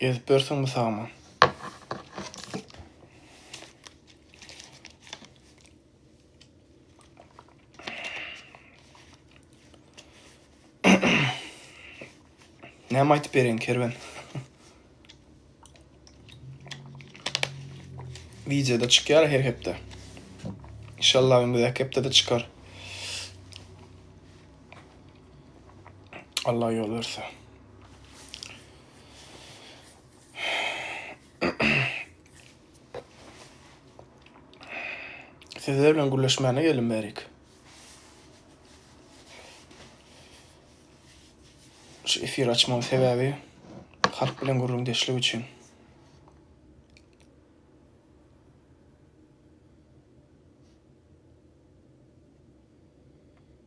Ezip berseň bu sagman. Näme aýtyp bereýin kerwen? Wideoda çykýar her hepde. İnşallah öňündäki hepdede çykar. Allah yol verse. Sizler bilen gürleşmäne geldim berik. Şu efir açmam sebäbi halk bilen gürrüň deşlik üçin.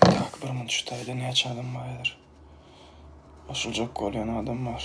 Tak, birinji taýda näçe adam bar häzir? Goşuljak bolýan adam bar.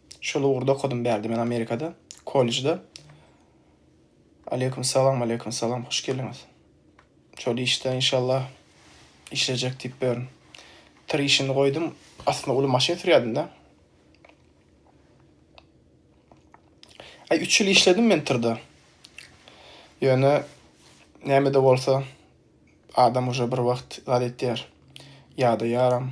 Şol ugurda okadym bärde men Amerikada, kollejde. Aleýkum salam, aleýkum salam, hoş geldiňiz. Şol işde inşallah işlejek diýip beren. Tir işini goýdum, aslynda uly maşyn sürýädim-de. Aý, üç ýyl işledim men tirde. Ýöne näme-de bolsa, adam uje bir wagt zat etýär, ýadaýaram.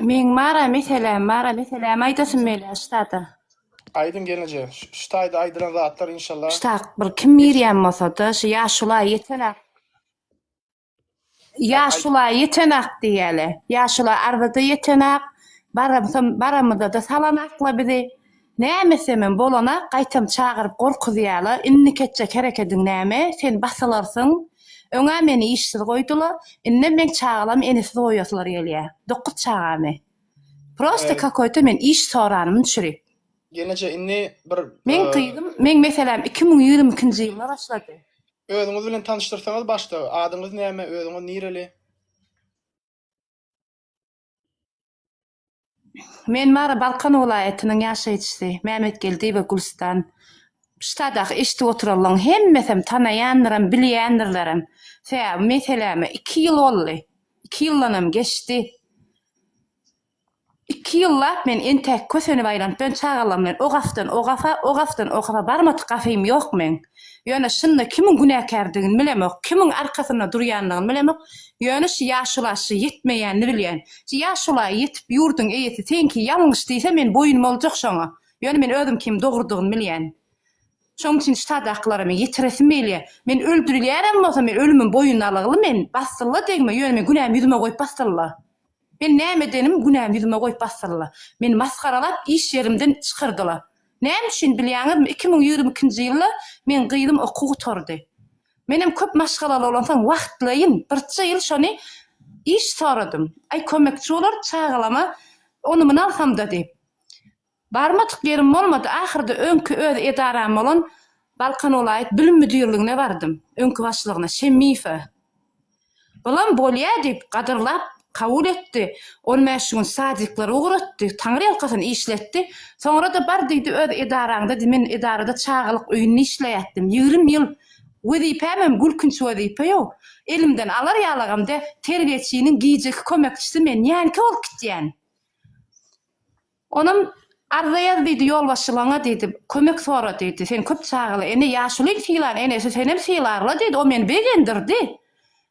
Meň mara meselem mara meselämi aýdasym gelýär ştada. Aýdyň gelneje ştaýda aýdylan zatlar inşallah. Ştak bir kim girýän bolsada şu ýaşula ýetenak. Ýaşula ýetenak diýeli. Ýaşula arzada ýetenak. Baramsam baramyzada salanakla bizi. Näme semem bolana gaýtam çagyryp gorkuzýala innik etjek herekediň näme sen basylarsyň öňä meni işsiz goýdula indem meň çagalam enesiz goýasylary gelýä dokuz çagamy prosta kakoýta men iş soranymyn çürik Ýeneje indi bir Meň gyzym meň meseläm iki müň ýigrimi ikinji ýylda başlady. Özüňiz bilen tanyşdyrsaňyz başda adyňyz näme özüňiz nireli. Men Mary Balkan welaýatynyň ýaşaýjysy Mämmetgeldiýewa Gülüstan. Ştadaky eşidip oturanlaň hemmesem tanaýandyrem, bilýändirlerem. Sebäbi meseläme iki ýyl boldy. Iki ýyldanam geçdi. Iki ýyllap men entäk kösenip aýlanyp, ben çagalarym bilen o gafdan o gafa, o gafdan o gafa barmadyk gafym ýok meň. Ýöne şunda kimiň günäkärdigini bilemok, kimiň arkasynda durýandygyny bilemok, ýöne şu ýaşula şy ýetmeýänini bilýän. Şy ýaşula ýetip ýurduň eýesi seňki ýalňyş diýse men boýun boljak şoňa. Ýöne men özüm kim dogrudygyny bilýän. Şoň üçin şu sadakylara men ýetiresim gelýä. Men öldürilýärem bolsa men ölümim boýun alygly men basylla degme ýöne men günämi ýüzüme goýup basylla. Men näme edenim günämi ýüzüme goýup basdylar. Meni masgaralap iş ýerimden çykyrdylar. Näme üçin bilýäňizmi iki müň ýigrimi ikinji ýylda meň gyzym okuw gutardy. Menem köp maşgalaly bolansoň wagtlaýyn birçe ýyl şony iş soradym. Aý kömekçi bolar çagalama ony muny alsamda diýip. Barmadyk ýerim bolmady, ahyrda öňki öz edaram bolan Balkan welaýat bilim müdirligine bardym, öňki başlygyna, Şemmiýewe. Bulam bolýa diýip, gadyrlap kabul etdi, on bäş gün sadiklary ugratdy, taňryýalkasyn işletdi, soňra-da bar diýdi öz edaraňda diý, men edarada çagalyk öýünde işleýätdim, ýigrimi ýyl, wezipämem gülkünç wezipe ýok, elimden alar ýalagam dä, terbiýeçiniň gijeki kömekçisi men, nänkä bolup gitýän? Onam, Arza ýaz diýdi, ýolbaşçylaňa diýdi, kömek sora diýdi. Sen köp çagaly ene, ýaşulyň sylan enesi senem sylarla diýdi, o meni begendirdi.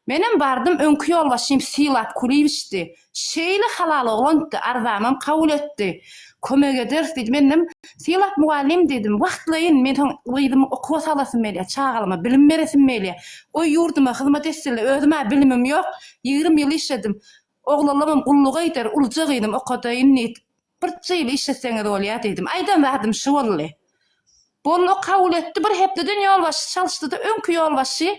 Menem bardym, öňki ýolbaşçym Sylap Kulyýewiçdi. Şeýle halal oglandy, arzamam kabul etdi. Kömek ederis diýdi. Menem, Sylap mugallym diýdim, wagtlaýyn, men soň gyzymy okuwa salasym gelýär, çagalaryma bilim beresim gelýär. Goý, ýurduma hyzmat etsinler, özüm-ä bilimim ýok, ýigrimi ýyl işledim. Oglanlarym gulluga gider, uluja gyzym okadaýyn diýdi. Birje ýyl işleseňiz bolýar diýdim. Aýdan zadym şu boldy. Boldy, o kabul etdi. Bir hepdeden ýolbaşçy çalyşdy-da, öňki ýolbaşçy,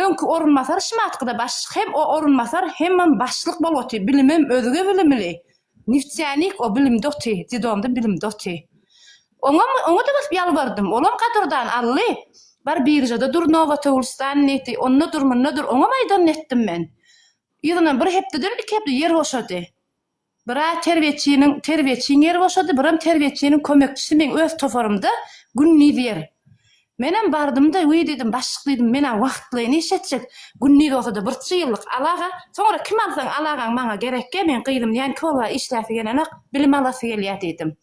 öňki orunbasar şumatky-da başlyk hem o orunbasar hemem başlyk bolup otyr. Bilimem özge bilimli. Neftianik o bilimde otyr, dedomda bilimde otyr. Oňam, oňa-da baryp ýalbardym. Olam gadyrdan aldy. Bar biržada dur, Nowotowulstan diýdi. Onda dur, munda dur. Oňam aýdanyny etdim men. Yzyna bir hepdeden iki hepde ýer boşady. Bir-ä terbiýeçiniň terbiýeçiň ýeri boşady, biram terbiýeçiniň kömekçisi meň öz toparymda gündiz ýer. Menem bardym-da, Wiý, diýdim, başlyk diýdim, men-ä wagtlaýyn iş etjek, gündiz bolsa-da birçe ýyllyk alaga, soňra kim alsaň alagaň maňa gerekýä, meň gyzym näinki bolýa işläsi gelenok, bilim alasy gelýä diýdim.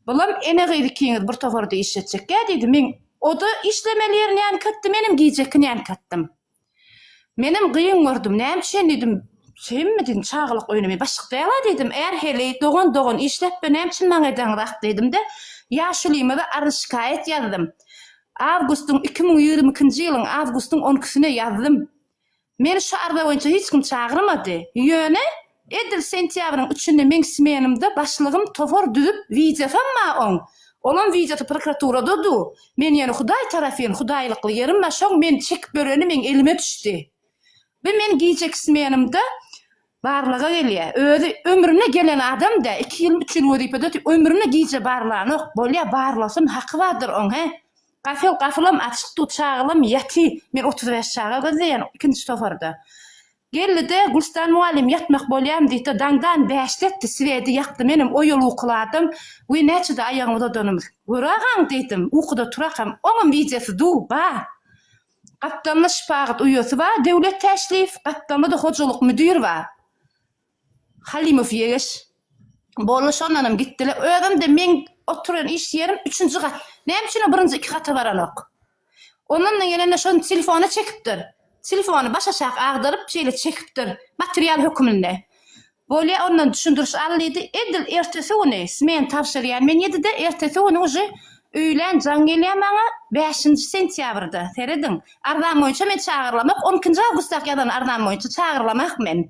Bulam ene-gyz ikiňiz bir toparda iş etjekýä diýdi, meň o-da işlemeli ýeri näinki etdi, menem gijeki näinki etdim. Menem gyn gördüm, näme üçin diýdim, Hemmedin çagalyk oýnamy başyk däl-a diýdim, är heleý, dogan dogan işläp-de näme üçin maňa edeňiz ah diýdim-de, ýaşulymaza arz-şikaýat ýazdym. Awgustyň iki müň ýigrimi ikinji ýylyň awgustyň on ikisine ýazdym. Meni şu arza boýunça hiç kim çagyrmady. Ýöne, Edil sentýabryň üçünde meň smenymda başlygym topar düzüp wideo hem ma oň, olam wideosy prokuraturada du, men ýene hudaý tarafyn hudaýlykly ýerim ma şoň men çekip ýöreni meň elime düşdi. Bi men gijeki smenymda barlaga gelýä, özi ömrüne gelen adam dä, iki ýylmy üç ýyl wezipede otyp ömrüne gije barlanok, bolýa barlasyn haky bardyr oň he. Gafel gafylam açyk du çagalam ýaty, men otuz bäş çaga gözleýän ikinji toparda. Geldi-de, Gülstan mugallym ýatmak bolýam diýdi, daňdan bäşletdi, siwedi ýakdy, menem o ýol ukyladym we näçede aýagyňy uzadanymyz, gör agaň diýdim, ukuda turakam, oňam wideosy duw, bar. Gapdalynda şypagyt uýasy bar, Döwlet Täşliýew, gapdalynda-da hojalyk müdiri bar. Halymow Ýegeş boldy, şondanam gitdiler. Özüm-de meň oturan iş ýerim üçünji gat. Näme üçin o birinji iki gata baranok? Ondan-da gelende şony telefona çekipdir. Telefony başaşak agdaryp, şeýle çekipdir, material höküminde. Bolýa, ondan düşündiriş al diýdi. Edil ertesi güni smena tabşyrýan men ýedide, ertesi güni uje öýlän jaň gelýär maňa, bäşinji sentýabrda, serediň. Arzam boýunça meni çagyrylamok, on ikinji awgustdaky ýazan arzam boýunça çagyrylamak men.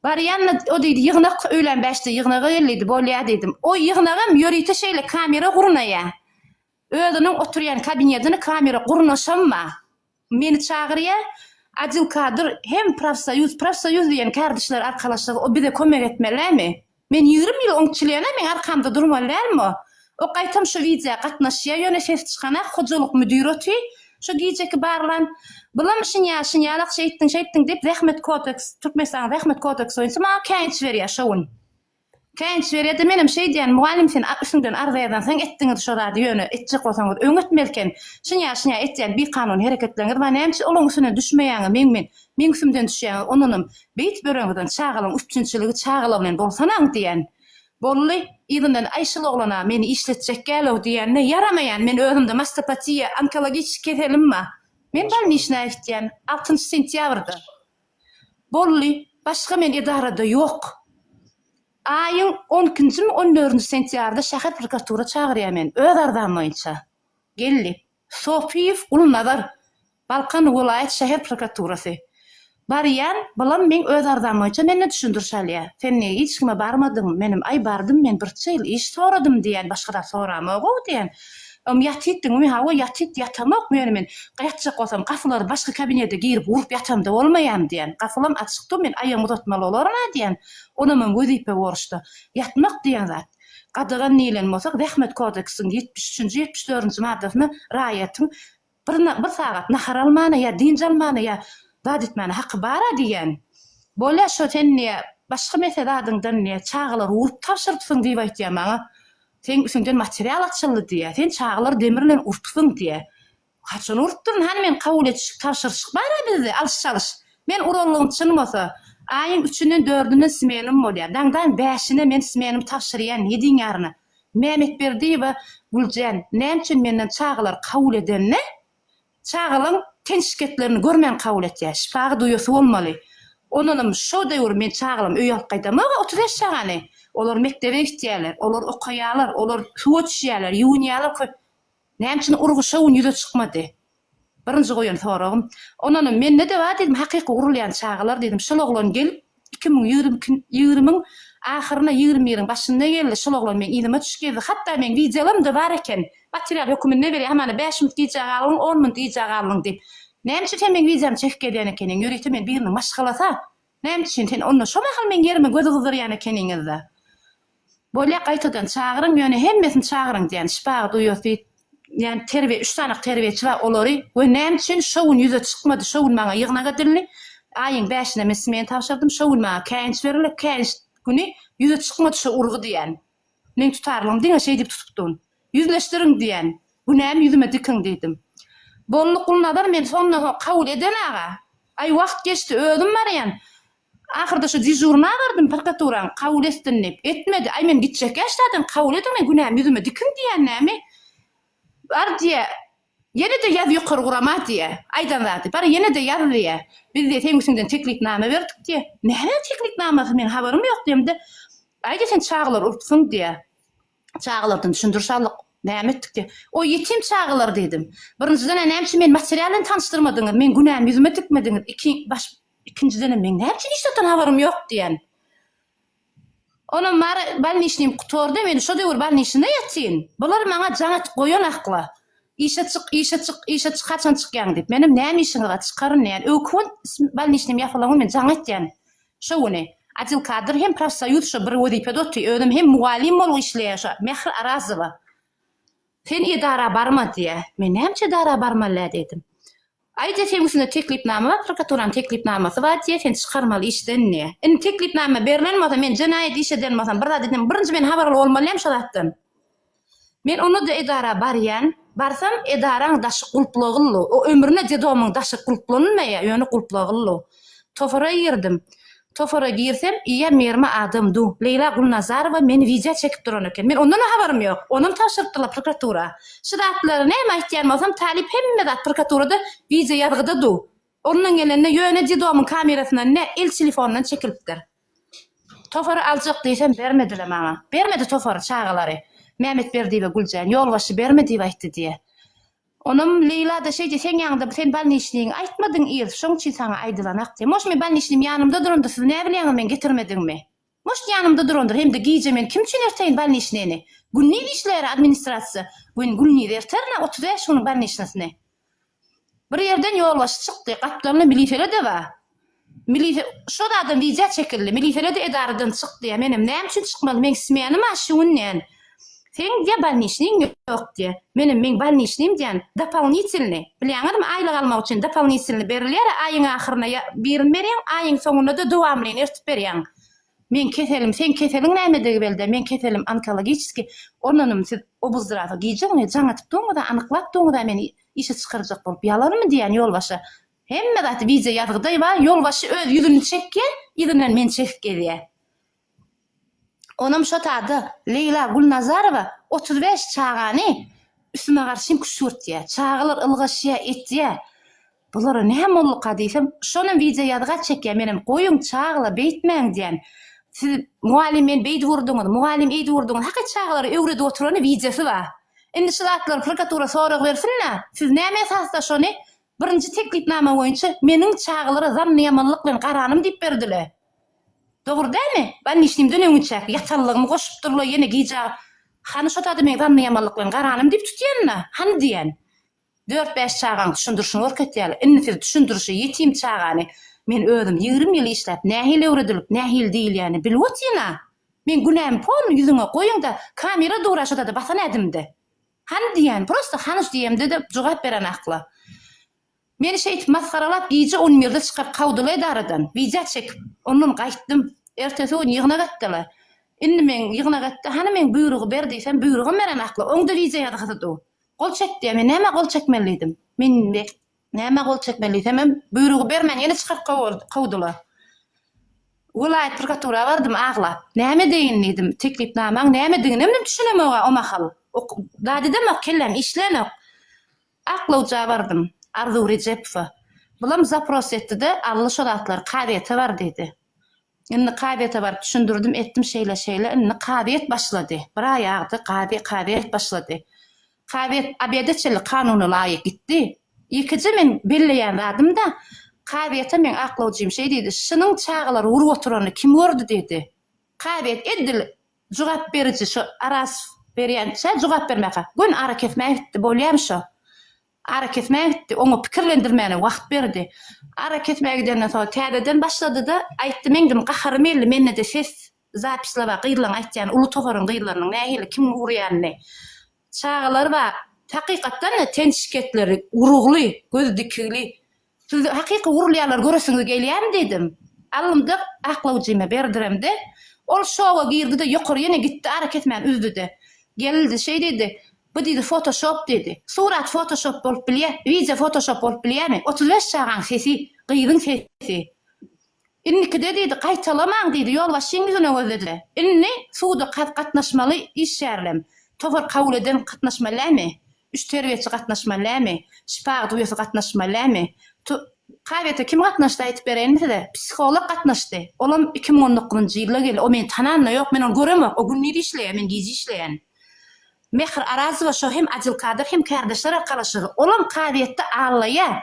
Barýan-da, o diýdi, Ýygnak öýlän bäşde ýygnaga gel diýdi, bolýa diýdim. O ýygnagam ýörite şeýle kamera gurnaýar. Özüniň oturýan kabinetini kamera gurnaşam bar. Meni çagyrýar, Adil Kadyr hem profsoýuz, profsoýuz diýen kardeşler arkalaşygy, o bize kömek etmelimi? Men ýigrimi ýyl oň çilene meň arkamda durmaly dälmi? O gaýtam şu widea gatnaşýa ýöne ses çykanak hojalyk müdiri oty şu gijeki barlan Bylam şin ýa şin ýalak şeýtdiň şeýtdiň diýip zähmet kodeks Türkmenistanyň zähmet kodeks boýunça maňa käýinç berýä şo gün käýinç berýäde menem şeýdýän mugallym sen üstüňden arza ýazansyň etdiňiz şo zady ýöne etjek bolsaňyz öň etmeli eken şin ýa şin ýa etýän bikanun hereketleriňiz bar näme üçin olaň üstüne düşmeýäňiz meň men Meň üstümden düşýäňiz, ondanam beýtip ýöreňizden çagalaň üpjünçiligi çagalar bilen bolsanaň diýen. Bolly, yzyndan aý şul oglan-a meni işletjek gälow diýende, ýaramaýan, men özümde mastopatiýa, onkologiçki keselim ba. Men bolniçnaýa gitýän, altynjy sentýabrda. Bolly, başga men edarada ýok. Aýyň on ikinjimi, on dördünji sentýarda şäher prokuratura çagyrýar meni, öz arzam boýunça. Gel diýip. Sopyýew Gulnazar, Balkan welaýat şäher prokuraturasy. Barýan, balam meň öz arzam boýunça menden düşündiriş alýar. Sen nä hiç kime barmadyň, menem aý bardym men birçe ýyl iş soradym diýýän başga zat soramogow diýýän. Ym ýatytdyňmy hawa ýatyt ýatamok ýöne men ýatjak bolsam gapylary başga kabinede girip urup ýatamda bolmaýam diýýän. Gapylam açykdyr men aýagymy uzatmaly bolarma diýýän. Onamam wezipe borçda. Ýatmak diýýän zat. Gadagan diýlen bolsa, Zähmet kodeksiniň ýetmiş üçünji, ýetmiş dördünji maddasynda raýatyň bir bir sagat nahar almana ýa dynç almana ýa zat etmäne haky bar-a diýýän. Bolýa şo sen diýýä, başga mese zadyňdan diýýä, çagalary urup tabşyrypsyň diýip aýtýa maňa. Seň üstüňden material açyldy diýýä. Sen çagalary demir bilen urupsyň diýýä. Haçan urupdyryn hany men kabul etiş tabşyryşyk bara bizde alyş çalyş men uralygym çyn bolsa aýyň üçünden dördüne smenim bolýa daňdaň bäşine men smenim tabşyrýan ýediň ýaryna Mämetberdiýewa Güljan näme üçin menden çagalar kabul edende çagalaň ten şiketlerini görmän kabul etýä şipagy duýasy bolmaly ondanam şo döwür men çagalam öýe alyp gaýdamaga otuz bäş çagany olar mekdebe gitýäler olar okaýalar olar suwa düşýäler ýuwunýalar köp Näme üçin urgy şo gün ýüze çykmady? Birinji goýan soragym. Ondanam mende-de bar diýdim, hakyky urulýan çagalar diýdim. Şol oglan gelip, iki müň ýigrimiň ahyryna, ýigrimi biriň başynda geldi. Şol oglan meň yzyma çyş gezdi. Hatda meň wideolarymy-da bar eken. Material höküminde berýär. Hamana bäş minut gijä galdyň, on minut gijä galdyň diýip. Näme üçin sen meň wideomy çekip gezýän ekeniň? Ýörite men biriniň maşgalasy-a. Näme üçin sen onda şo mahal meň ýerime göz gyzdyrýan ekeniňiz-de? Bolýa, gaýtadan çagyryň, ýöne hemmesini çagyryň diýýän, şypagy duýasy ýan terbiýe, üç sany terbiýeçi bar, olary we näme üçin şo gün ýüze çykmady, şo gün maňa ýygnak edildi, aýyň bäşinde men smena tabşyrdym, şo gün maňa käýinç berildi, käýinç güni ýüze çykmady şo urgy diýýän. Meň tutarlygym diňe şeý diýip tutupdyn. Ýüzleşdiriň diýen. Günämi ýüzüme dikiň diýdim. Boldy Gulnazar men sonda-ha kabul eden aga. Aý wagt geçdi özüm barýan. Ahyrda şu dežurny agardym prokaturaň kabul etsin diýip. Etmedi. Aý men gitjek ýaşdadan kabul ediň men günämi ýüzüme dikiň diýen näme? Bar diýe. Ýene-de ýaz ýokary gurama diýýä. Aýdan zady, bar ýene-de ýaz diýýä. Biz diýýä, seň üstüňden teklipnama berdik diýýä. Nämäň teklipnamasy, meň habarym ýok diýemde, Aý diýýä, sen çagalary urupsyň diýýä. Çagalardan düşündiriş aldyk. Näme etdik diýýä. O ýetim çagalar diýdim. Birinjiden-ä näme üçin meni material bilen tanyşdyrmadyňyz, meň günämi ýüzüme dikmediňiz, iki, baş, ikinjidenem meň näme üçin hiç zatdan habarym ýok diýen. Onam bar balniçnim gutardy, men şo döwür balniçnda ýatyn. Bular maňa jaň edip goýan akla. Işe çyk, işe çyk, işe çyk, haçan çykýaň diýip. Menem näme işiňiz bar, çykaryn diýen. Öňki gün balniçnim ýapylan gün men jaň etýän. Şo güni. Adil kadr hem profsoýuz şo bir wezipede otyr, özem hem mugallym bolup işleýär şo Mähri Arazowa. Sen edara barma diýýär. Men näme üçin edara barmaly-ä diýdim. Aýja söýgüsinde teklipnama bar, prokuraturanyň teklipnamasy bar diýýär, seni çykarmaly işden diýýär. Indi teklipnama berlen bolsa, men jenaýat iş eden bolsam, bir zat eden, birinji men habarly bolmalýam şo zatdan. Men onda-da edara barýan. Barsam, edaraň daşy gulplagylly. O ömrüne dedomyň daşy gulplanylmaýar, ýöne gulplagylly. Tofara girdim. Tofara girsem ýa Mermi adam du. Leýla Gulnazarowa meni wideo çekip duran eken. Men ondanam habarym ýok. Onam tabşyrypdyrlar prokuratura. Şu zatlary näme aýtýan bolsam talyp hemme zat prokuraturada wideo ýazgyda du. Olundan gelende ýöne dedomyň kamerasyndan ne el telefonyndan çekilipdir. Tofary aljak diýsem bermedile maňa. Bermedi tofary çagalary. Mämet Berdiýewe Güljan ýolbaşçy berme diýip aýtdy diýe. Onam Leýla-da şeýdi, seň ýanyňda sen balniçniňi aýtmadyň yz, şoň üçin saňa aýdylanak diýdi. Moş meň balniçnim ýanymda duranda siz näbilýäňiz meň getirmedigimi? Moş ýanymda durandyr, hem-de gije men kim üçin erteýin balniçnini? Gündiz işleýär administrasiýa, men gündiz erterin-ä otuz bäş günüň balniçnisini. Bir ýerden ýolbaşçy çykdy, gapdalynda milisele-de bar. Milise şo zadan wideo çekildi. Milisede edaradan çyk diýýär. Menem näme üçin çykmaly? Meň smenym a şu gün diýen. Seň diýýär bolniçnyň ýok diýýär. Menem meň bolniçnym diýýän dopolnitilny. Bilýäňizmi aýlyk almak üçin dopolnitilny berilýär a aýyň ahyryna ýa birini berýäň aýyň soňuna da dowamlyny ertip berýäň. Meň keselim seň keseliň nämedigi belde meň keselim onkologiçiski onunym siz obuzdrasa gije güni jaň atyp duruňyz a anyklap duruňyz a meni işe çykarjak bolup ýalanmy diýýän ýolbaşa Hemme zat wideo ýazgydaý bar, ýolbaşçy öz ýüzüni çekýä, yzyndan meni çekip gezýä. Onam şo tada Leýla Gulnazarowa otuz bäş çagany üstüme garşym küşgürtýä, çagalar ylgaşýa, etýä. Bulara nä molluka diýsem, şonam wideo ýazga çekýä, menem goýuň çagla beýtmäň diýän. Siz mugallym meni beýdip urduňyz, mugallym eýdip urduňyz, haky çagalara öwredip oturany wideosy bar. Indi şu zatlar prokuratura sorag bersin-le, siz näme esasda şony Birinji teklipnama boýunça meniň çagalara zannyýamanlyk bilen garanym diýip berdile. Dogry dämi? Bannişnimden öňinçäki ýatanlygymy goşupdyrla ýene gija Hany şo zady men zannyýamanlyk bilen garanym diýip tutýanyna, hany diýen. Dört-bäş çagaň düşündirişini görkezýäli. Indi siz düşündirişi ýetim çagany men özüm ýigrimi ýyl işläp nähili öwredilip nähili diýilýäni bilip otyryn-a. Men günämi polny ýüzüňe goýuň-da kamera dura şo zady basan ädimde. Hany diýýän, prosta Hanuş diýemde-de jogap beren akla. Meni şeýdip masgaralap gije on birde çykaryp kawdyla edaradan, widýa çekip, ondan gaýtdym. Ertesi gün ýygnak etdi-le. Indi men ýygnak etdi, hany meň buýrugy ber diýsem, buýrugam beren akla, oň-da widýa ýazgysydyw. Gol çek diýýär, men nämä gol çekmelidim? Men indi. Nämä gol çekmeli diýsemem, buýrugy bermän ýene çykaryp kowdular. Welaýat prokuratura bardym aglap. Näme edeýin diýdim, teklipnamaň nämediginem düşünemog-a o mahal. Zat edemok, kellem işlänok. Aklawja bardym, Arzuw Rejepowa. Bulam zapros etdi-de, Ally şo zatlary kazyýete bar diýdi. Indi kazyýete baryp düşündirdim, etdim şeýle-şeýle. Indi kazyýet başlady. Bir aý agdy, kazy, kazyýet başlady. Kazyýet obeda çenli kanuna laýyk gitdi. Ilkije men belleýän zadym-da, kazyýete meň aklawjym şeý diýdi, Şunuň çagalary urup oturanyny kim gördi? diýdi. Kazyýet edil jogap beriji şo araz berýänçä jogap bermäkä, göni arakesmäge gitdi. Bolýamy şo? Arakesmä gitdi. Oňa pikirlendirmäne wagt berdi. Arakesmä gidenden soň täzeden başlady-da, aýtdy, meň diýdim, gaharym geldi, mende-de ses zapislap bar, gyzlaň aýtýan, uly toparyň gyzlarynyň nähili, kimiň urýanyny. Çagalar bar, hakykatdan-da, ten şikesleri, urugly, gözi dikigli. Siz hakyky urulýarlar göresiňiz gelýärmi diýdim. Alymjyk aklawjymy berdiremde, ol şowa girdi-de ýokary ýene gitdi ara kesmän üzdi-de. Geldi şeý diýdi, Bu diýdi fotoşop diýdi. Surat fotoşop bolup bilýä, wideo fotoşop bolup bilýämi? Otuz bäş çagaň sesi, gyzyň sesi. Indikide diýdi, gaýtalamaň diýdi, ýolbaşçyň ýüzüne gözledi. Indi suda gatnaşmaly işgärlem, tohar kabul eden gatnaşmallämi, üç terbiýeçi gatnaşmallämi, şypa agdüýesi gatnaşmallämi, tu, kabete kim gatnaşdy aýtyp bereýinmi size, psiholog gatnaşdy, olam iki müň on dokuzynjy ýylda geldi, o meni tanan-da ýok, men ony göremok, o gündiz işleýär, men gije işleýän. Mähir Arazowa şo hem Adylkadyr hem kärdeşler arkalaşygy, olam kazyýetde aglaýar,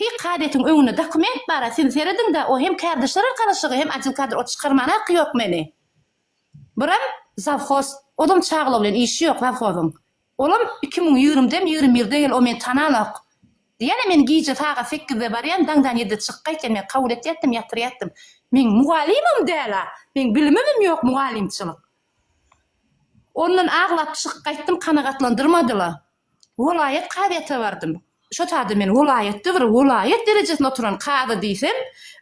Pik kadetiň öňünde dokument bara siz serediňda o hem kardeşler arkalaşygy hem adil kadr ot çykarmana haky yok meni buram zavhoz ozam çagla bilen işi yok zavhozyň olam iki müň ýigrimi dem ýigrimi birde gel o meni tananok diýýän men gije sagat sekizde barýan daňdan ýedide çykyp gaýtýan men kabul etýätdim ýatyrýatdym men mugallymym däla men bilimimim yok mugallymçylyk ondan aglap çykyp gaýtdym kanagatlandyrmadyla. Welaýat kazyýete bardym. Şo taýda men welaýatda bir welaýat derejesinde oturan kazy diýsem,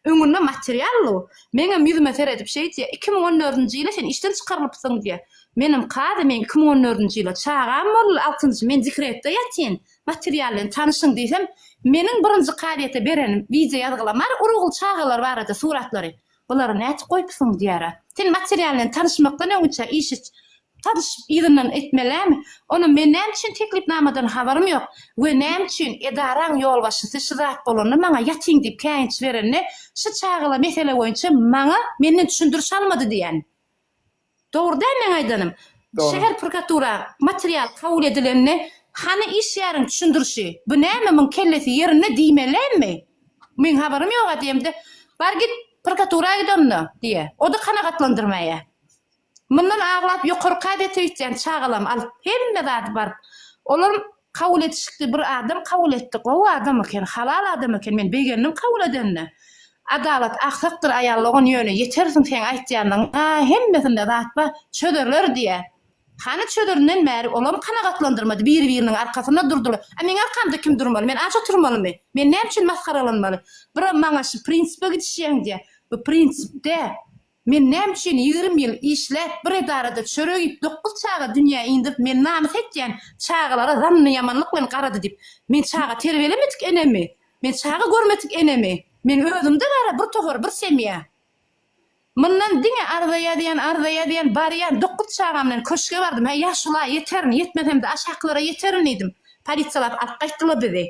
öňünde material ol. Meňem ýüzüme seredip şeýdýär, Iki müň on dördünji ýyly sen işden çykarylypsyň diýýär. Menem, Kazy, men iki müň on dördünji ýyla çagam boldy, altynjy, men dekretde ýatyn, material bilen tanyşyň diýsem, Meniň birinji kazyýete berenim wideoýazgylamar urugly çagalar barada suratlary. Bulary näçe goýupsyň diýýär-ä. Sen material bilen tanyşmakdan öňüçe işi tanyşyp yzyndan etmelimi? Onam men näme üçin teklipnamadan habarym ýok we näme üçin edaraň ýolbaşçysy şu zat bolanda maňa ýatyň diýip käýinç berende şu çagala mesele boýunça maňa menden düşündiriş almady diýýän. Dogry däl meň aýdanym? Şäher prokuratura material kabul edilende hany iş ýäriň düşündirişi, bu näme muň kellesi ýerinde diýmelimi? Meň habarym ýoga diýemde bar git prokuratura git onda diýe. Oda kanagatlandyrmaýa. Mundan aglap ýokarka dete üýtýän çagalam alyp hemme zady baryp olar Kabul etişikdi bir adam kabul etdi gowy adam eken halal adam eken men begendim kabul edenine adalat aksakdyr aýallogan ýöne ýetersiň seň aýtýandygyňa hemmesinde zat ba çözerler diýä hany çözerinden bäri olam kanagatlandyrmady biri biriniň arkasynda durdylar a meň arkamda kim durmaly men aç oturmalymy men näme üçin masgaralanmaly bira maňa şu prinsipe gidişýäň diýä bu prinsip dä Men näme üçin ýigrimi ýyl işläp bir edarada çörek iýip dokuz çaga dünýä indirip men namys etýän çagalara zanny ýamanlyk bilen garady diýip men çaga terbelemedik enemi men çaga görmedik enemi men özümde bara bir tohar bir semýa Mundan diňe arza ýazýan arza ýazýan barýan dokuz çagam bilen köşge bardym hä ýaşula ýeterin ýetmesemde aşakylara ýeterin diýdim polisiýalap alyp gaýtdylar bizi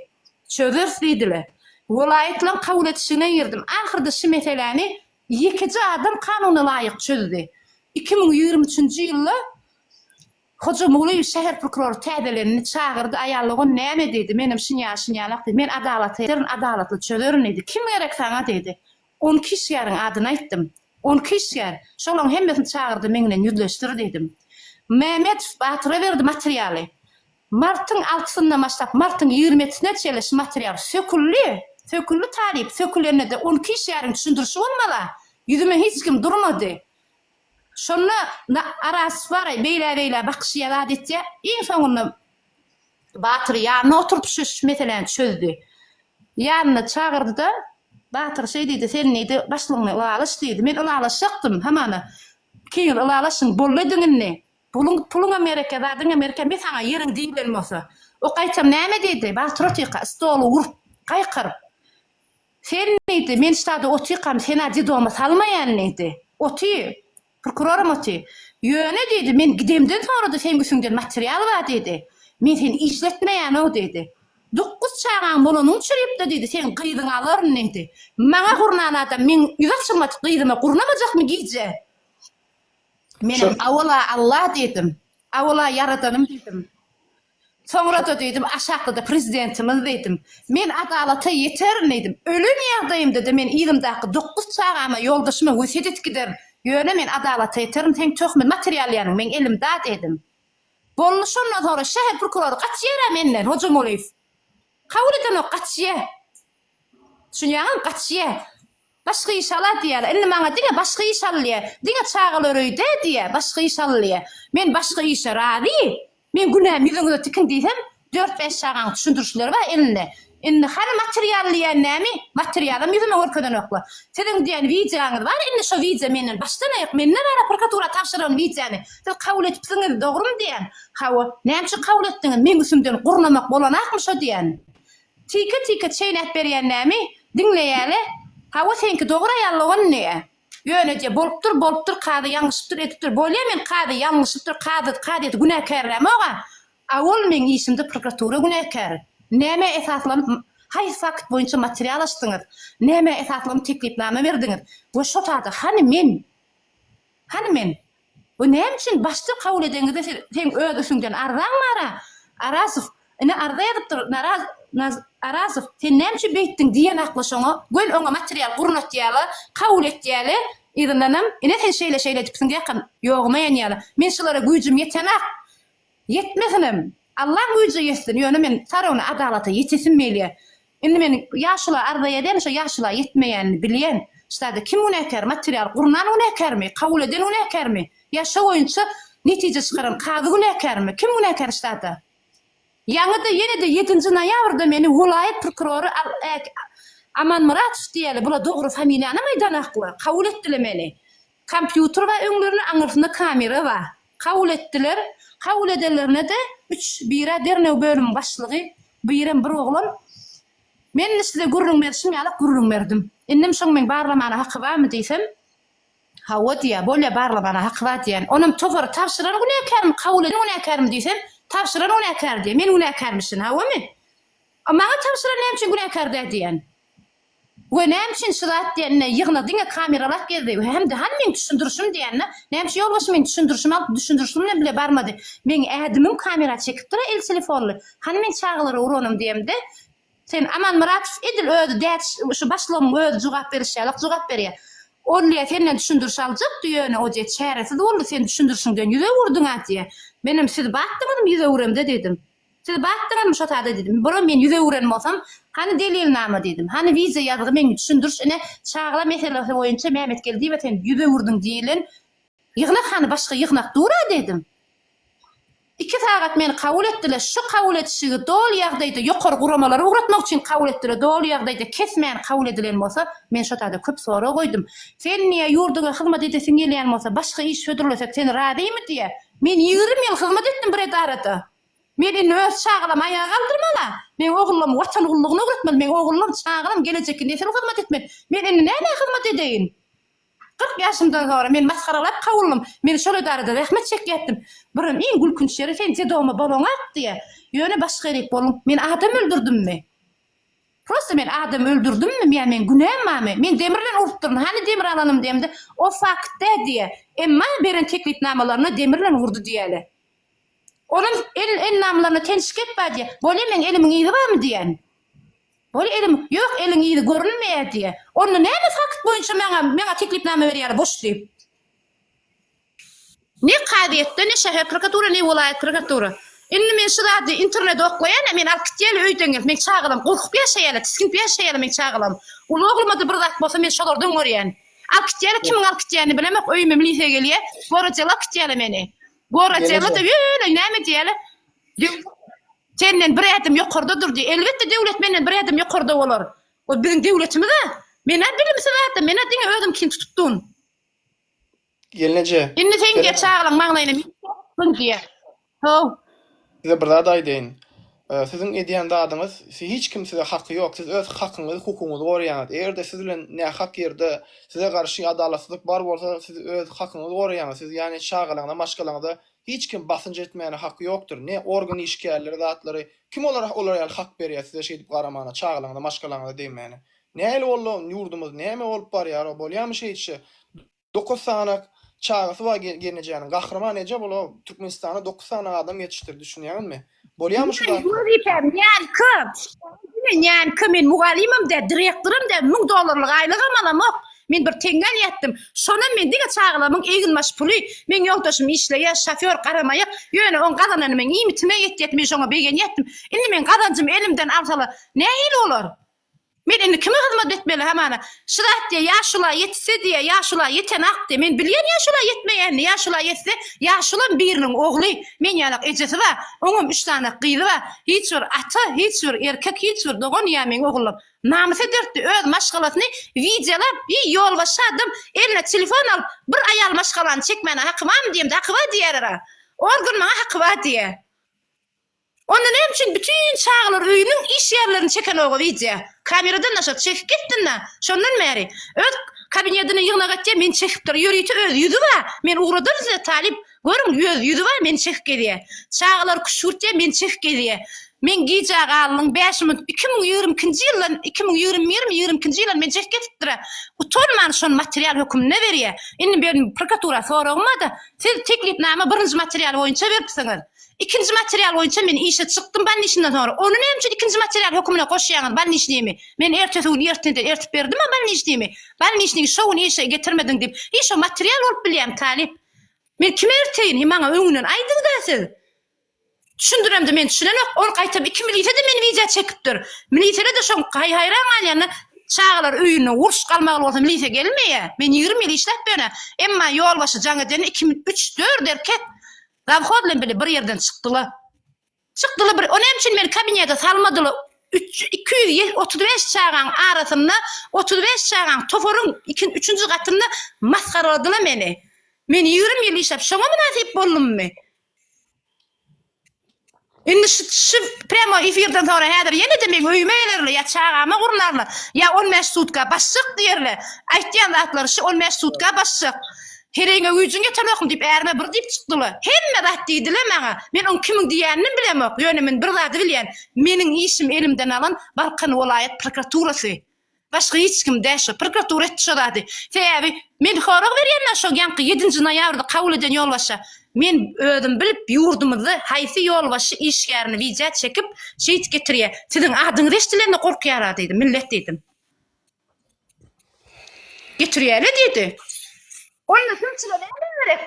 çözeris diýdiler welaýatlaň kabul etişigine girdim ahyrda şi meseläni Ýekeje adam kanuna laýyk çözdi. Iki müň ýigrimi üçünji ýylda Hoja Muglyýew şäher prokurory täzelendi, çagyrdy, aýal ogan näme diýdi, menem şinýaly şinýalak diýdi, men adalata ederin, adalatly çözerin diýdi, kim gerek saňa diýdi, on iki işgäriň adyny aýtdym, on iki işgär, şolaryň hemmesini çagyrdy, meň bilen ýüzleşdir diýdim. Mämmedow Batyra berdi materialy, Martyň altysyndan başlap, martyň ýigrimetisine çenli şu material söküldi. Söküldi talyp, sökülende-de on iki işgäriň düşündirişi bolmala, ýüzüme hiç kim durmady. Şonda na Aras baraý, beýlä-beýlä bakyşýa, zat etýä. Iň soňunda Batyry ýanyna oturdyp şu meseläni çözdi. Ýanyna çagyrdy-da, Batyr şeý diýdi, Sen diýdi, başlygyňa ylalaşy diýdi. Men ylalaşjakdym, hamana, kiňiz ylalaşyň, boldy ediň indi. Puluň puluňa mereke zadyňa merke me saňa ýeriň diýilen bolsa o gaýtam näme diýdi Batyr otyka stoly urup gaýkyryp sen diýdi men ştada otykam senä dedoma salmaýan diýdi oty prokuroram oty ýöne diýdi men gidemden soňrada seň üsüňden material bar diýdi men seni işletmeýänoo diýdi dokuz çagaň bolanyny uçurypda diýdi seň gyzyňy alaryn diýdi maňa gurnan adam meň ýüzi açylmadyk gyzyma gurnamajakmy gije Menem awala Alla diýdim. Awala Ýaradanym diýdim. Soňra-da diýdim, aşakda-da Prezidentimiz diýdim. Men adalata ýeterin diýdim. Ölen ýagdaýymda-da men yzymdaky dokuz çagama, ýoldaşyma wesýet edip giderin. Ýöne men adalata ýeterin, seň töhmet materialýaryň meň elimda diýdim. Boldy şondan soňra şäher prokurory gaçýar-a menden, Hojamulýew. Kabul edenok, gaçýar. Düşünýäňizmi, gaçýar. Başga iş al-a diýýär. Indi maňa diňe başga iş al diýýär. Diňe çagalar öýde diýýär. Başga iş al diýýär. Men başga işe razy. Men günäm ýüzüňize tikin diýsem, dört-bäş çagaň düşündirişleri bar elinde. Indi hany material diýýän näme? Materialam ýüzüme görkezenoklar. Siziň diýen wideoňyz bar, indi şo wideo menden başdan-aýak mende bar-a prokuratura tabşyran wideony siz kabul edipsiňiz, dogrumy diýýän? Hawa. Näme üçin kabul etdiňiz? Meň üstümden gurnamak bolanakmy şo diýýän? Tyka tyka çeýnäp berýän nämi? Diňleýäle. Hawa seňki dogra ýalogany. Ýöneje bolupdyr bolupdyr kazy ýalňyşypdyr edipdir bolýa men kazy ýalňyşypdyr kazy kazyýeti günäkärlämoga a ol meň işimde prokuratura günäkär nämä esaslanyp haýsy fakt boýunça material açdyňyz nämä esaslanyp teklipnama berdiňiz we şo sada hany men hany men Bu näme üçin başlyk kabul edenizde siz seň öz üstüňden arzaň bara Arasow ine arza ýazypdyr naraz naz Arasow sen näme üçin beýtdiň diýen hakly şoňa göl oňa material gurnatýala kabul etýäle yzyndanam ine sen şeýle şeýle edipsiň diýakam ýoguma ýanýala men şulara güýjüm ýetenak Ýetmesenem, Alla güýje ýetsin, ýöne men Sarona adalata ýetesim gelýär. Indi men ýaşula arza ýazýan, şo ýaşula ýetmeýänini bilýän. Ştada kim günäkär, material gurnan günäkärmi, kabul eden günäkärmi, ýa şo boýunça netije çykaran kazy günäkärmi, kim günäkär ştada? Ýaňy-da, ýene-de ýedinji noýabrda meni welaýat prokurory Amanmyratow diýeli, bula dogry familiýanam aýdanaklar, kabul etdiler meni. Kompýuter bar öňlerinde aňyrsynda kamera bar. Kabul etdiler. Kabul edenlerine-de üç bira derňew bölümiň başlygy birem bir oglan. Men size gürrüň berşim ýalak gürrüň berdim. Indem şoň meň barlamana haky barmy diýsem, Hawa diýýär. Bolýa barlamana haky bar diýýän. Onam topary tabşyran günäkärmi, kabul eden günäkärmi diýsem, tabşyran günäkär diýýär. Men günäkärmişin hawamy? A maňa tabşyran näme üçin günäkär däl diýýän. We näme üçin şu zat diýende ýygna diňe kameralap gezdi we hem-de hany meň düşündirişim diýende näme üçin ýolbaşçy meň düşündirişimi alyp düşündirişim bilen bile barmady meň ädimim kamera çekipdira el telefonly hany meň çagalara uranym diýemde sen Aman Muratow edil özi däç şu başlygyň özi jogap beriş ýalyk jogap berýä Olýa senden düşündiriş aljakdy ýöne Oje çäresiz boldy sen düşündirişiňden ýüz öwürdiňä diýä menem siz batdyňyzmy ýüz öwüremde diýdim. Siz bakdyňyzmy şo sada diýdim. Bura men ýüz öwüren bolsam, hany delilnama diýdim. Hany wideo ýazgy meň düşündiriş ine çagla meselesi boýunça Mämetgeldiýewe sen ýüz öwürdiň diýilen ýygnak hany başga ýygnak dur-a diýdim. Iki sagat meni kabul etdiler şo kabul edişigi doly ýagdaýda ýokary guramalara ugratmak üçin kabul etdiler doly ýagdaýda kesmän kabul edilen bolsa men şo sada köp sorag goýdum. Sen diýä ýurduňa hyzmat edesiň gelýän bolsa başga iş hödürlesek sen razymy diýä Men ýigrimi ýyl hyzmat etdim bir edarada. Men indi öz çagalamy aýaga galdyrmaly-a. Meň ogullamy Watan gullugyna öwretmeli. Meň ogullam, çagalam gelejekki nesil hyzmat etmeli. Men indi nämä hyzmat edeýin? Kyrk ýaşymdan soňra meni masgaralap kowulnym. Men şol edarada zähmet çekýärdim. Birem iň gülkünç ýeri sen Dedowma bolaňak diýýä. Ýöne başga ýerik boluň. Men adam öldürdimmi? Prosta men adam öldürdimmi ýa meň günäm barmy? Men demir bilen urupdyryn, hany demir alanym diýemde, o faktda diýýär. Emma beren teklipnamalaryna demir bilen urdy diýýäle. Onuň el elnamalaryna teniş gep bar diýýär. Bolýa meň elimiň yzy barmy diýýän. Bolýa elim, ýok eliň yzy görünmeýär diýýär. Onda näme fakt boýunça maňa maňa teklipnama berýäler boş diýip. Ne kazyýetde, ne şäher prokuratura, ne welaýat prokuratura. Indi men şu zady internede oklaýan-a, meni alyp gitýärler öýden gelip, meň çagalam gorkup ýaşaýarlar, tisginip ýaşaýarlar meň çagalam. Uly ogluma-da bir zat bolsa, men şolardan görýän. Alyp gitýärler, kimiň alyp gitýänini bilemok, öýüme milisiýa gelýär, gorajyga alyp gitýärler meni. Gorajyga-da ýöne näme diýýärler, döwlet senden bir ädim ýokarda dur diýýär. Elbetde, döwlet menden bir ädim ýokarda bolar. Ol biziň döwletimiz-ä. Men-ä bilimsiz adam, men-ä diňe özümkini tutupdyryn. Gelneje. Indi sen diýer çagalaň magnaýyna men çökdüm diýer. How. Size bir zat aýdaýyn. Siziň edýän zadyňyz siz hiç kim size haky ýok siz öz hakyňyzy hukugyňyzy goraýaňyz egerde siz bilen nähak ýerde size garşy adalatsyzlyk bar bolsa siz öz hakyňyzy goraýaňyz siz ýani çagalaňyza maşgalaňyza hiç kim basynç etmäne haky ýokdyr ne organ işgärleri zatlary kim olara olar ýaly hak berýä size şeýdip garamana çagalaňyza maşgalaňyza degmäne näli boldy ýurdumyz näme bolup barýar bolýamy şeýtşe Dokuz sany çagasy bar gelnejäniň. Gahryman eje bula Türkmenistana dokuz sany adam ýetişdirdi, düşünýäňizmi? Bolýamy şu zat? Wezipem ýaňky. Men ýaňky men mugallymym däl, direktoram däl, müň dollarlyk aýlygam alamok. Men bir teňňe alýatdym. Şonam men diňe çagalarymyň eginbaş puly. Meň ýoldaşym işleýär, şofýor, garamaýak. Ýöne oň gazanany meň iýmitime ýetýärdi, men şoňa begenýärdim. Indi meň gazanjymy elimden alsalar, nähili bolar? Men indi kime hyzmat etmeli hamana? Şyrat diýýär, ýaşula ýetse diýýär, ýaşula ýetenak diýýär. Men bilýän ýaşula ýetmeýänini, ýaşula ýetse, ýaşulam biriniň ogly, men ýalak ejesi bar, oňam üç sany gyzy bar, hiç bir ata, hiç bir erkek, hiç bir dogan ýa meň ogullym. Namys ederdi, öz maşgalasyny wideolap, iý, ýolbaşçy adam eline telefon alyp, bir aýal maşgalany çekmäne haky barmy diýemde, haky bar diýerera. Organ maňa haky bar diýýär. Onda näme üçin bütün çagalar öýüniň iş ýerlerini çekenoga wideo kameradan daşary çekip gitdinda şondan bäri öz kabinedini ýygnak etýä meni çekip dur ýörite öz ýüzi ba men ugradym size talyp görüň öz ýüzi ba meni çekip gezýä çagalar küşgürtýä meni çekip gezýä men gijä galnyň bäş minut iki müň ýigrimi ikinji ýyldan iki müň ýigrimi bir ýigrimi ikinji ýylan meni çekip gezipdira utanman şony material höküminde berýä indi berin prokuratura soragym bada siz teklipnama birinji material boýunça beripsiňiz. Ikinji material boýunça men işe çykdym balniçniden soňra. Ony näme üçin ikinji material hökümine goşýaňyz balniçnimi? Men ertesi gün erteden ertip berdim-ä balniçnimi. Balniçnigi şo gün işe getirmediň diýip, hiý şo material bolup bilýämi talyp? Men kime erteýin? Hiý maňa öňünden aýdyň-da siz. Düşündiremde men düşünenok. Ol gaýtam iki milise-de meni wideo çekipdir. Miliseler-de şoň haý-haýran galýanlar. Çagalar öýünde uruş galmagly bolsa milise gelmeýä. Men ýigrimi ýyl işläp ýörün-ä. Emma ýolbaşy jaň edende iki, üç, dört erkek Zawhoz bilen bile bir ýerden çykdylar. Çykdylar bir, o näme üçin meni kabinete salmadylar? Üç, iki ýüz ýe- otuz beş çagaň arasynda, otuz beş çagaň toparyň ikin, üçünji gatynda masgaraladylar meni. Men ýigrimi ýyl işläp, şoňa mynasyp boldummy? Indi şu şu premo efirden sonra häzir ýene-de meň öýüme gelerler ýa çagama gurnarlar, ýa on bäş sutka basjak diýerler. Aýtýan zatlary şu on bäş sutka basjak. Heregiňe güýjüň ýetenokmy diýip ärime bir diýip çykdylar. Hemme zat diýdiler maňa. Men oň kimiň diýeninem bilemok. Ýöne men bir zady bilýän, meniň işimi elimden alan Balkan welaýat prokuraturasy. Başga hiç kim däl şo prokuratura etdi şo zady. Sebäbi men sorag berýänler şo ýanky ýedinji noýabrda kabul eden ýolbaşşa. Men özüm bilip ýurdumyzda haýsy ýolbaşşy işgärini widýa çekip şeýt getirýä. Siziň adyňyz eşdilende gorkýara diýdi millet diýdim. Getirýäle diýdi. Onda sumçyla näme gerek?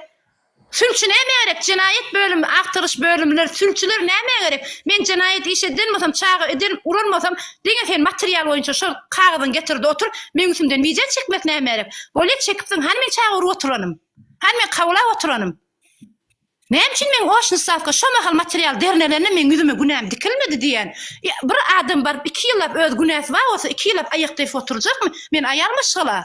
Sülçi näme gerek? Jenaýat bölümi, agtaryş bölümleri, sülçiler nämä gerek? Men jenaýat iş edýän bolsam, çaga eden, uran bolsam, diňe sen material boýunça şol kagyzyňy getir-de otur, meň üstümden wideo çekmek nämä gerek? Bolýa çekipsiň, hany men çaga urup oturanym? Hany men kawlap oturanym? Näme üçin meň oçny stawka şo mahal material dernelende meň ýüzüme günäm dikilmedi diýýän? Bir adam baryp iki ýyllap öz günäsi bar bolsa iki ýyllap aýakda ýatyp oturjakmy? Men aýal maşgala.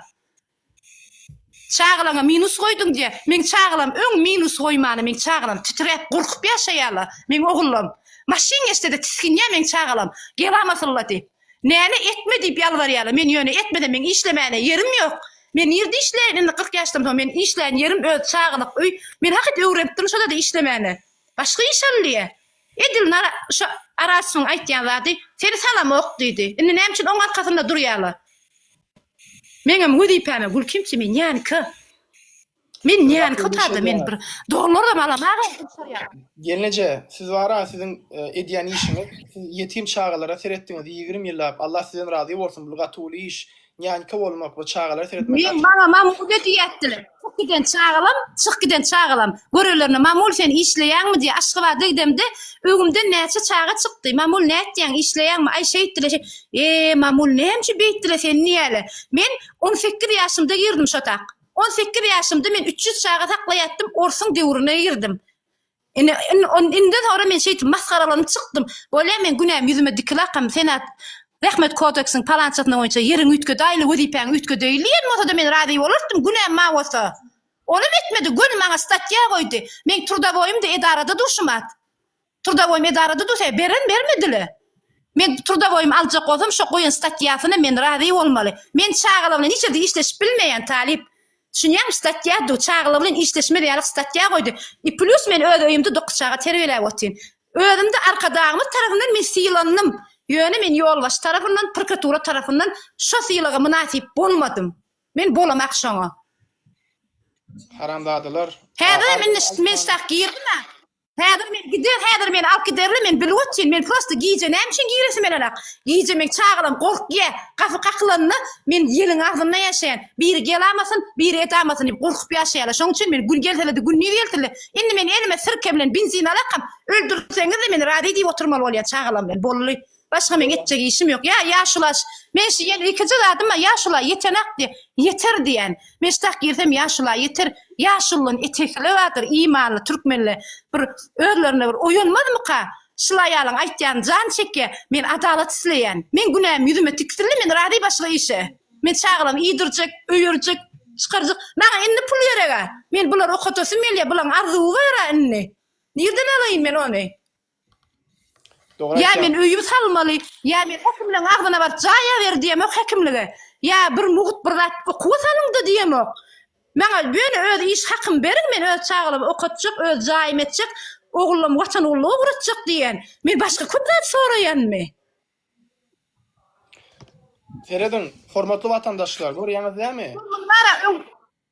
Çagalaňa minus goýduň diýä. Meň çagalam öň minus goýmana meň çagalam titräp gorkup ýaşaýala. Meň ogullam maşyn geçsede tisginýä meň çagalam gelamasylla diýip. Näme etme diýip ýalbarýala. Men ýöne etmesem meň işlemäne ýerim ýok. Men nirde işleýin indi kyrk ýaşdan soň men işleýän ýerim öz çagalyk öý. Men hakyt öwrenipdirin şodada işlemäne. Başga iş allyýa. Edil nara şo Arasfyň aýtýan zady seni salamok diýdi. Indi näme üçin oň arkasynda durýala. Meňem wezipäme gül kim kimi nýanka. Men nýanka tada men bir doglaram alamaga gysarýar. Gelneje siz bara siziň e, edýän işiňiz siz ýetim çagalara seretdiňiz ýigrimi ýyllap Allah sizden razy bolsun bul gaty uly iş nýanka bolmak we çagalara seretmek Men maňa mamuda diýätdiler. Çyk giden çagalam, çyk giden çagalam. Görelerine Mamul sen işleýäňmi diýip Aşgabada gidemde öwümden näçe çaga çykdy. Mamul nätýäň işleýäňmi? Aý şeýtdile şe. Eee Mamul nämçe beýtdile seni niýäle. Men on sekiz ýaşymda girdim şotak. On sekiz ýaşymda men üç ýüz çaga saklaýatdym orsuň döwrüne girdim. Ine, indi soňra men şeýdip masgaralanyp çykdym. Bolýa, men günämi ýüzüme dikiläkam, Senat Zähmet kodeksiniň palançasyna boýunça ýeriňi üýtge, daýly wezipäňi üýtge deýli diýen bolsa-da men razy bolardym, günäm maň bolsa. Onam etmedi, göni maňa statýa goýdy. Meň trudawoýym-da edarada durşum at. Trudawoýym edarada dursa, beren bermedi-le. Men trudawoýymy aljak bolsam, şo goýan statýasyna men razy bolmaly. Men çagalar bilen hiç ýerde işleşip bilmeýän talyp. Düşünýäňmi statýa du çagalar bilen işleşmez ýalyk statýa goýdy i plus men öz öýümde dokuz çaga terbiýeläp otyryn özümde arkadagymyz tarapyndan men sylandym ýöne men ýolbaşy tarapyndan prkatura tarapyndan şo sylaga mynasyp bolmadym men bolamak şoňa. Haramzadalar. Häzirem indi men ştah girdim a. Häzir men gider, häzir meni alyp giderler, men bilip otyryn, men prosta gije näme üçin giresim gelenok. Gije men çagalam gorkýa, gapy kakylanda men ýeliň agzynda ýaşaýan. Biri gelamasyn, biri edamasyn diýip gorkup ýaşaýarlar. Şoň üçin men gün gelsede, gündiz gelsede, indi men elime sirke bilen benzin alakam, öldürseňiz-de men razy diýip oturmaly bolýan çagalam bilen. Bolly. Başga meň etjek işim ýok. Ýa ýaşulaş. Men şu ýel ilkinji zadyma ýaşula ýetenak diýen. Ýeter diýen. Men ştak girsem ýaşula ýeter. Ýaşulyň etekile bardyr imanly türkmenle. Bir özlerine bir oýanmazmyka? Şul aýalyň aýtýan jan çekýä. Men adalat isleýän. Men günäm ýüzüme tiksildi men razy başga işe. Men çagalamy iýdirjek, öýerjek, çykarjak. Maňa indi pul gerega. Men bulary okatasym gelýä. Bulaň arzuwy bara indi. Nirden alaýyn men ony? Dogry Ýa men aýtýaň. öýümi salmaly, ýa meni häkimleň agzyna baryp jaýa ber diýemok häkimlige, ýa bir mugt bir zat okuwa salyň-da diýemok. Maňa ýöne öz iş hakymy beriň, men öz çagalamy okatjak, öz jaýymy etjek, ogullamy Watan ugruna ugratjak diýýän. Men başga köp zat soraýanmy? Serediň, hormatly watandaşlar, görýäňiz dämi? Mundan ara öň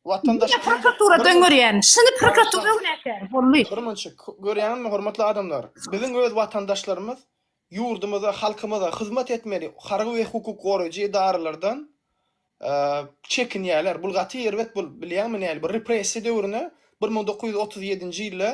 Watandaş Diňe prokuratura döňürýän. Şuny prokuratura näkär? Bolly. Birmunça görýäňizmi hormatly adamlar? Biziň öz watandaşlarymyz ýurdumyza, halkymyza hyzmat etmeli harby we hukuk goraýjy edaralardan çekinýärler. Bul gaty erbet bul. Bilýäňmi näli? Bu repressiýa döwrüne bir müň dokuz ýüz otuz ýedinji ýylda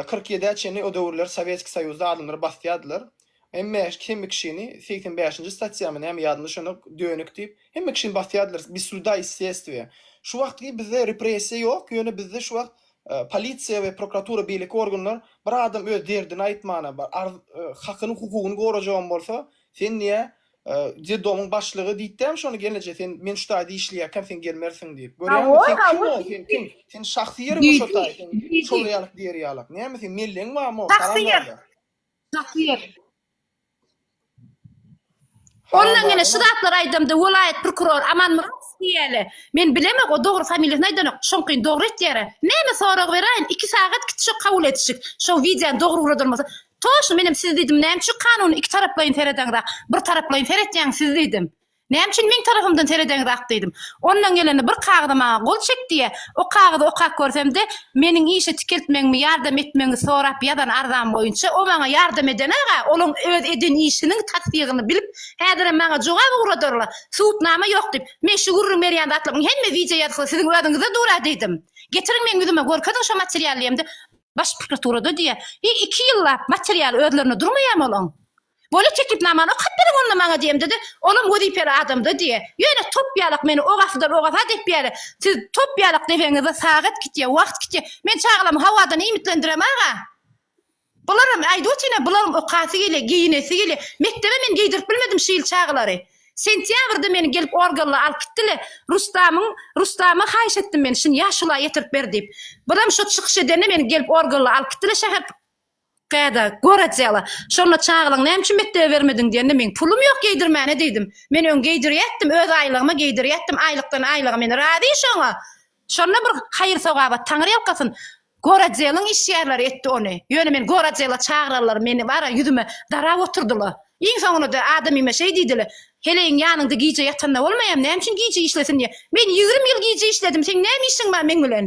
Kyrk ýedä çenli o döwürler Sowetski Soýuzda adamlar basýardylar. Hemme hemme kişini segsen bäşinji statýamy näme ýadymda düşenok dönük diýip hemme kişini basýardylar bez suda i sestwiýa. Şu wagtky bizde repressiýa ýok ýöne bizde şu wagt polisiýa we prokuratura beýleki organlar bir adam öz derdini aýtmana bar arz hakyny hukugyny gorajagam bolsa sen niýe Dedomyň başlygy diýtdämi şony gelneje sen men şu taýda işleýärkäm sen gelmersiň diýip. Görýäňmi sen kim ol sen kim? Sen şahsy ýeriňmi şo taý sen şol ýalyk diýer ýalyk. Näme sen melleň barmy o haram ýaly. Şahsy ýer. Ondan ýene şu zatlar aýdamda welaýat prokuror Aman Myradow diýýäle. Men bilemok o dogry familiýasyny aýdanok. Şoňkyn dogry etýär. Näme sorag beräýin? 2 sagat gitişik kabul edişik. Şo wideony dogry uradylmasa Toşy menem siz diýdim näme üçin kanuny iki taraplaýyn seredeňrak bir taraplaýyn seretýäňiz siz diýdim. Näme üçin meň tarapymdan seredeňrak diýdim. Ondan gelende bir kagyza maňa gol çek diýýä. O kagyzy okap görsemde meniň işe tikeltmegimi ýardam etmegiňi sorap ýazan arzam boýunça o maňa ýardam edenag-a olaň öz eden işiniň tassygyny bilip häzirem maňa jogap ugradarlar subutnama ýok diýip. Men şu gürrüň berýän zatlaryň hemme wideo ýazgysy siziň özüňizde dur-a diýdim. Getiriň meň ýüzüme görkeziň şo materialy diýemde Baş prokuraturada diýýär, Heý, iki ýyllap material özlerinde durmaýarmy olaň? Bole teklipnamany okap beriň onda maňa diýemde-de, olam wezipeli adamda diýýär, Ýöne top ýalak meni ogasydan ogasa depýärler. Siz top ýalak depeňizde sagat gitýär, wagt gitýär. Men çagalamy howadan iýmitlendirem aga. Bularam, aýdyp otyryn-a, bularam okasy gelýär, geýinesi gelýär. Mekdebe men geýdirip bilmedim şu ýyl çagalary. Sentýabrda meni gelip organla alyp gitdile Rustamyň Rustama haýyş etdim men şyn ýaşula ýetirip ber diýip bizem şo çykyş edende meni gelip organla alyp gitdile şäher Käde, gorodýala. Şonda çagalaň näme üçin mekdebe bermediň diýende meň pulum ýok geýdirmäne diýdim. Men öň geýdirýätdim öz aýlygyma geýdirýätdim aýlykdan aýlyga men razy şoňa. Şonda bir haýyr-sogaba, taňyrýalkasyn, gorotdeliň işgärleri etdi ony. Ýöne men gorotdela çagyrarlar, meni bar-a ýüzüme darap oturdylar. Iň soňunda-da adamyma şeý diýdiler, Heleýiň ýanyňda gije ýatanda bolmaýam, näme üçin gije işlesin diýýä. Men ýigrimi ýyl gije işledim, seň näme işiň bar meň bilen?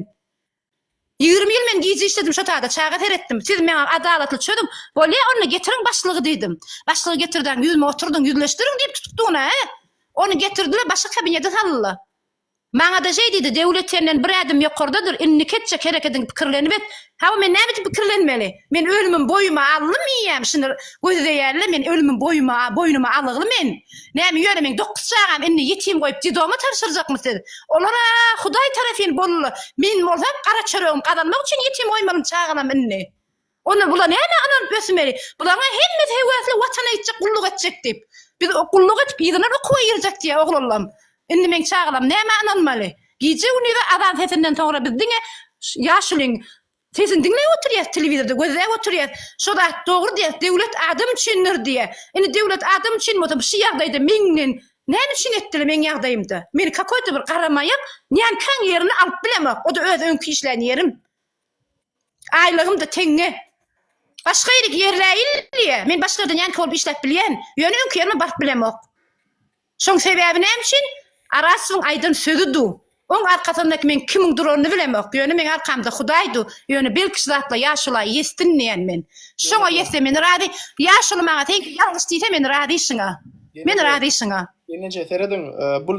Ýigrimi ýyl men gije işledim, şo taýda çaga seretdim. Siz maňa adalatly çözüň. Bolýa, onda getiriň başlygy diýdim. Başlygy getirdiň, ýüzüme oturdyň, ýüzleşdiriň diýip tutukdygyna-a? Ony getirdiler, başga kabinete saldylar. Maňa-da şeý diýdi, Döwlet senden bir ädim ýokardadyr, indiki etjek herekediňi pikirlenip et. Hawa, men näme üçin pikirlenmeli? Men ölümim boýuma alnym iýýän, şuny gözleýän-le, men ölümim boýuma, boýnuma alygly men. Näme, ýöne meň dokuz çagam indi ýetim goýup dedoma tabşyrjakmy siz? Olar-a Hudaý tarapyn boldular, men bolsam gara çöregimi gazanmak üçin ýetim goýmalym çagalarym indi. Onda bula näme ynanyp ösmeli? Bularyň hemmesi höwesli Watana ýetjek, gulluk etjek diýip. Biz gulluk edip ýylalar okuwa girjek diýýär oglanlam. Indi meň çagalam nämä ynanmaly? Gije-gündize azan sesinden soňra biz diňe ýaşulyň sesini diňläp oturýas telewizorda gözläp oturýas. Şo zat dogry diýýas döwlet adam üçindir diýýär. Indi döwlet adam üçin bolsa bu şu ýagdaýda meňden näme üçin etdiler meň ýagdaýymda? Meni kakoýda bir garamaýar, nämkäň ýerini alyp bilemok. O-da öz öňki işlän ýerim. Aýlygym-da teňňe. Başga ýere giderläýildi-ýa. Men başga ýerden ýanky bolup işläp bilýän, ýöne öňki ýerime baryp bilemok. Şoň sebäbi näme üçin? Arasowyň aýdan sözi du. Oň arkasyndaky meň kimiň duranyny bilemok, ýöne meň arkamda Hudaý du, ýöne belki şu zatla ýaşula ýesdin diýýän men. Şoňa ýetse men razy. Ýaşuly maňa seňki ýalňyş diýse men razy şuňa. Men razy şuňa. Ýeneje serediň, bu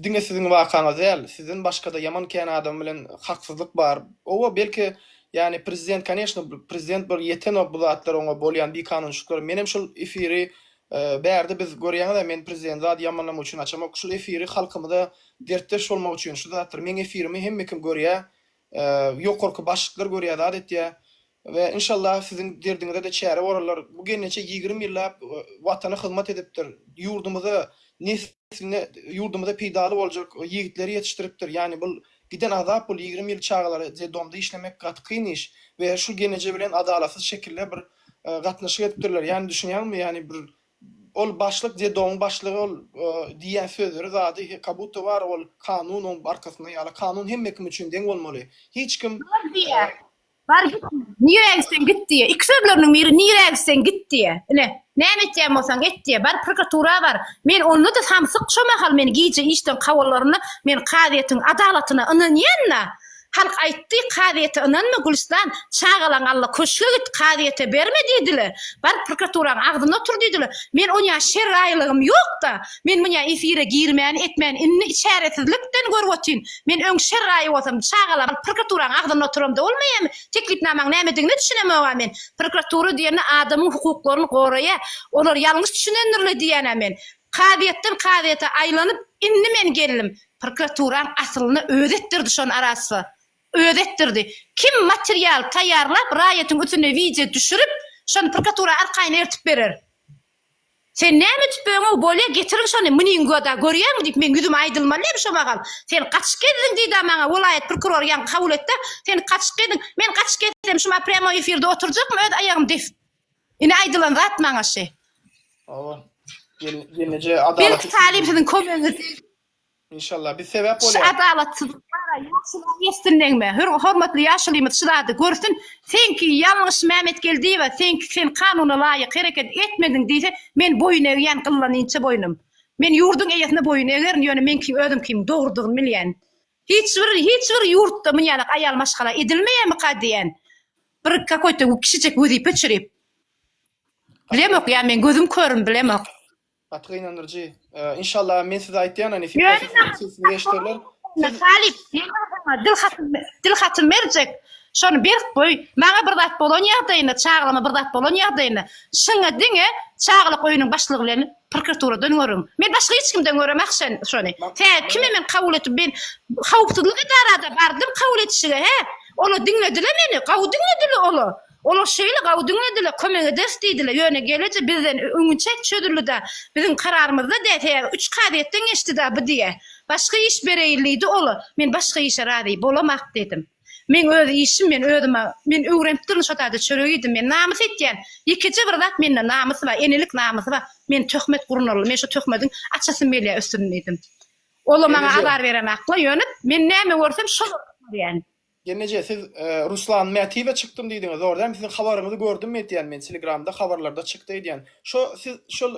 diňe siziň wakaňyz däl, sizden başgada ýaman kän adam bilen haksyzlyk bar. Oba belki Yani prezident koneşno prezident bolup ýetenok bu zatlar oňa bolýan bikanunçylyklar menem şul efiri bärde biz görýäňizä men prezident zat ýamanlamak üçin açamok şul efiri halkymyza dertdeş bolmak üçin şu zatlar meň efirimi hemmekim görýä ýokarky başlyklar görýä zat etýä We inşallah siziň derdiňize-de çäre borarlar. Bu gelneçe ýigrimi ýyllap Watana hyzmat edipdir. Ýurdumyza, nesline, ýurdumyza peýdaly boljak ýigitleri ýetişdiripdir. Ýani bul giden azap bul ýigrimi ýyl çagalara dedomda işlemek gaty kyn iş. We şul gelneje bilen adalatsyz şekilde bir gatnaşyk edipdirler. Ýani düşünýäňmi ýani bir ol başlyk dedoň başlygy ol diýýän sözleri zady kabutta bar ol kanun oň arkasynda ýaly kanun hemme kim üçin deň bolmaly. Hiç kim. Dogry diýýär. Bar git. Nire gitsen git diye. İki sözleriniň biri nire gitsen git diye. Ine, näme etýän bolsaň et diye. Bar prokuratura bar. Men onda da samsyk şo mahal men gije işden kawallarynda men kazyýetiň adalatyna ynanýan-da. Halk aýtdy, kazyýete ynanma Gülüstan, çagalaň alla köşge git, kazyýete berme diýdiler. Bar prokuraturaň agzynda otur diýdiler. Men onýa şer raýlygym ýok-da. Men muňa efire girmän, etmän, indi çäresizlikden görüp otyryn. Men öň şer raýy bolsam, çagalar alyp prokuraturaň agzynda oturamda bolmaýamy? Teklipnamaň nämedigine düşünemog-a men. Prokuratura diýende adamyň hukuklaryny goraýa, olar ýalňyş düşünendirle diýýän-ä men. Kazyýetden kazyýete aýlanyp, indi men geldim. Prokuraturaň asylynda özi etdirdi şony arassa. Özi etdirdi. Kim material taýýarlap, raýatyň üstüne wideo düşürip, şony prokuratura arkaýyn ertip berer? Sen näme edip böňew bolýa getiriň şony meniň göda görýäňmi diýip meň ýüzüme aýdylmaly hem şo magam sen gaçyp gezdiň diýda maňa welaýat prokurory ýaňky kabul etde sen gaçyp gezdiň men gaçyp gezsem şuma prýamoý efirde oturjakmy öz aýagym depip ine aýdylan zat maňa şy. Hawa. Ýeneje adalat. Belki talim siziň kömegiňiz degdi. Inşallah biz sebäp Şu bolýarys. adalatsyzlyklara ýaşulyň ýetsin degme. Hür hormatly ýaşulymyz şu zady görsün. Seňki ýalňyş Mämetgeldiýewa seňki sen kanuna laýyk hereket etmediň diýse men boýun egýän gyllanynça boýnum. Men ýurduň eýesine boýun egerin ýöne meňki özümkiň dogrudygyny bilýän. Hiç bir hiç bir ýurtda muny ýaly aýal maşgala edilmeýärmika diýän. Bir kakoýta kişijek wezipe çürip. Bilemok ýa men gözüm körüm bilemok. Gaty gynandyryjy. Inşallah men size aýtýan näme işlerler. Talyp, dil hatym, dil hatym berjek. Şony berk goý. Maňa bir zat bolan ýagdaýynda, çagama bir zat bolan ýagdaýynda, şyňa diňe çagalyk öýüniň başlygy bilen prokuraturadan görüň. Men başga hiç kimden göremok şen, şony. Tä kime men kabul etip, men howpsuzlyk edarada bardym kabul etişige, hä? Ola diňledile meni, gawy diňledile ola. Olar şeýle gawy diňlediler, kömek ederis diýdiler, ýöne geleje bizden öňinçä çözüldi-dä, biziň kararymyzda dä sebäbi üç kazyýetden geçdi-dä bu diýä. Başga iş bereýin diýdi ola, men başga işe razy bolamok diýdim. Meň öz işim, men özüm-ä, men öwrenip duryn şo taýda çörek iýdim, men namys etýän, ýekeje bir zat mende namys bar, enelik namysy bar, men töhmet gurnaly, men şo töhmediň açasym gelýä üstüni diýdim. Ola maňa azar beremakla, ýöne men näme görsem şol görýän. Jemleje siz Ruslan Mätiýewe çykdym diýdiňiz zor däl siziň habaryňyzy gördüm etýän men telegramda habarlarda çykdy edýän şo siz şol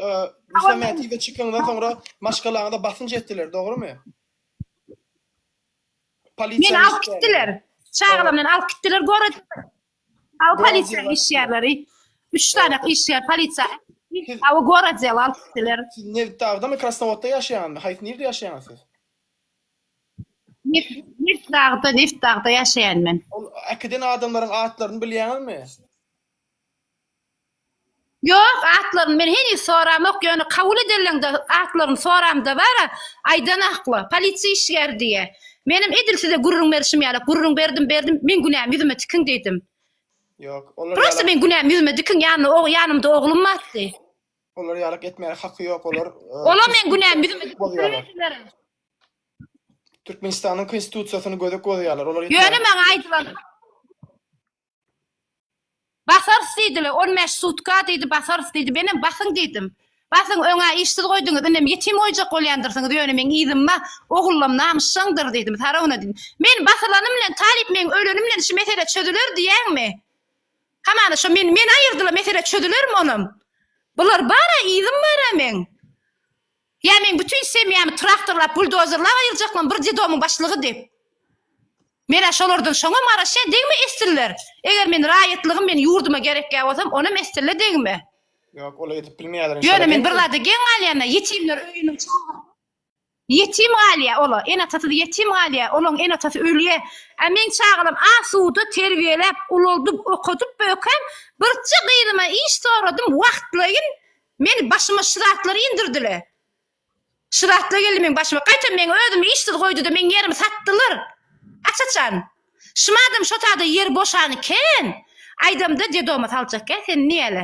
Ruslan Mätiýewe çykyňyzdan soňra maşgalaňyza basynç etdiler dogrymy? Meni alyp gitdiler çagalar meni alyp gitdiler gorod aw polisiýa işgärleri üç sany işgär polisiýa aw gorod alyp gitdiler. Siz Nebitdagdamy Krasnowodda ýaşaýaňyzmy haýsy nirde ýaşaýaňyz siz? Neft, neft dagda, neft dagda ýaşaýan men. Ol äkiden adamlaryň atlaryny bilýäňizmi? Ýok, atlaryny men heniz soramok, ýöne kabul edenleňde atlaryny soramda bar-a, aýdan akla, polisiýa işgäri diýýä. Menem edil size gürrüň berişim ýaly, gürrüň berdim, berdim, meň günäm ýüzüme tikiň diýdim. Ýok, olar ýaly. Prosta meň günäm ýüzüme dikiň, ýanynda, ýanymda oglum bardy. Olar ýalyk etmäge haky ýok, olar e, Ola men günäm bizim Konstitusiýasy bozýarlar. türkmençileriň. Türkmenistanyň konstitusiýasyny gödek bozýarlar. Olar Ýöne etmäge maňa aýdylan Basarys diýdiler, 15 sutka diýdi, basarys diýdi. Menem basyň diýdim. Basyň, öňä işsiz goýduňyz, inem ýetim goýjak bolýandyrsyňyz, ýöne meň yzyma ogullam namysjaňdyr diýdim, Sarowna diýdim. Men basylanym bilen, Talyp meň ölenim bilen şu mesele çözüler diýýäňmi? Hamana şo men men aýyrdyla mesele çözülermi onam. Bular bara yzym bara meň. Ýa meň bütün semýamy traktorlap buldozerlap aýyrjaklam bir dedomyň başlygy dep. Menä şolardan şoňam garaşýa degme esdiller. Eger men raýatlygym men ýurduma gerekýa bolsam onam esdille degme. Ýok ola edip bilmeýäler inşallah. Ýöne men bir zada geň galýana ýetimler öýüniň çagasy. Ýetim galýar ola, ene-atasyz ýetim galýar, olaň ene-atasy ölýär. Ä meň çagalam asuda terbiýeläp, ulaldyp, okadyp böken birje gyzyma iş soradym, wagtlaýyn meni başyma şu zatlary indirdiler. Şu zatlar geldi meň başyma. Gaýtam meň özümi işsiz goýduda meň ýerimi satdylar. Aç-açan. Şumadam şo sada ýer boşan iken, aýdamda dedoma saljak kä sen niýele.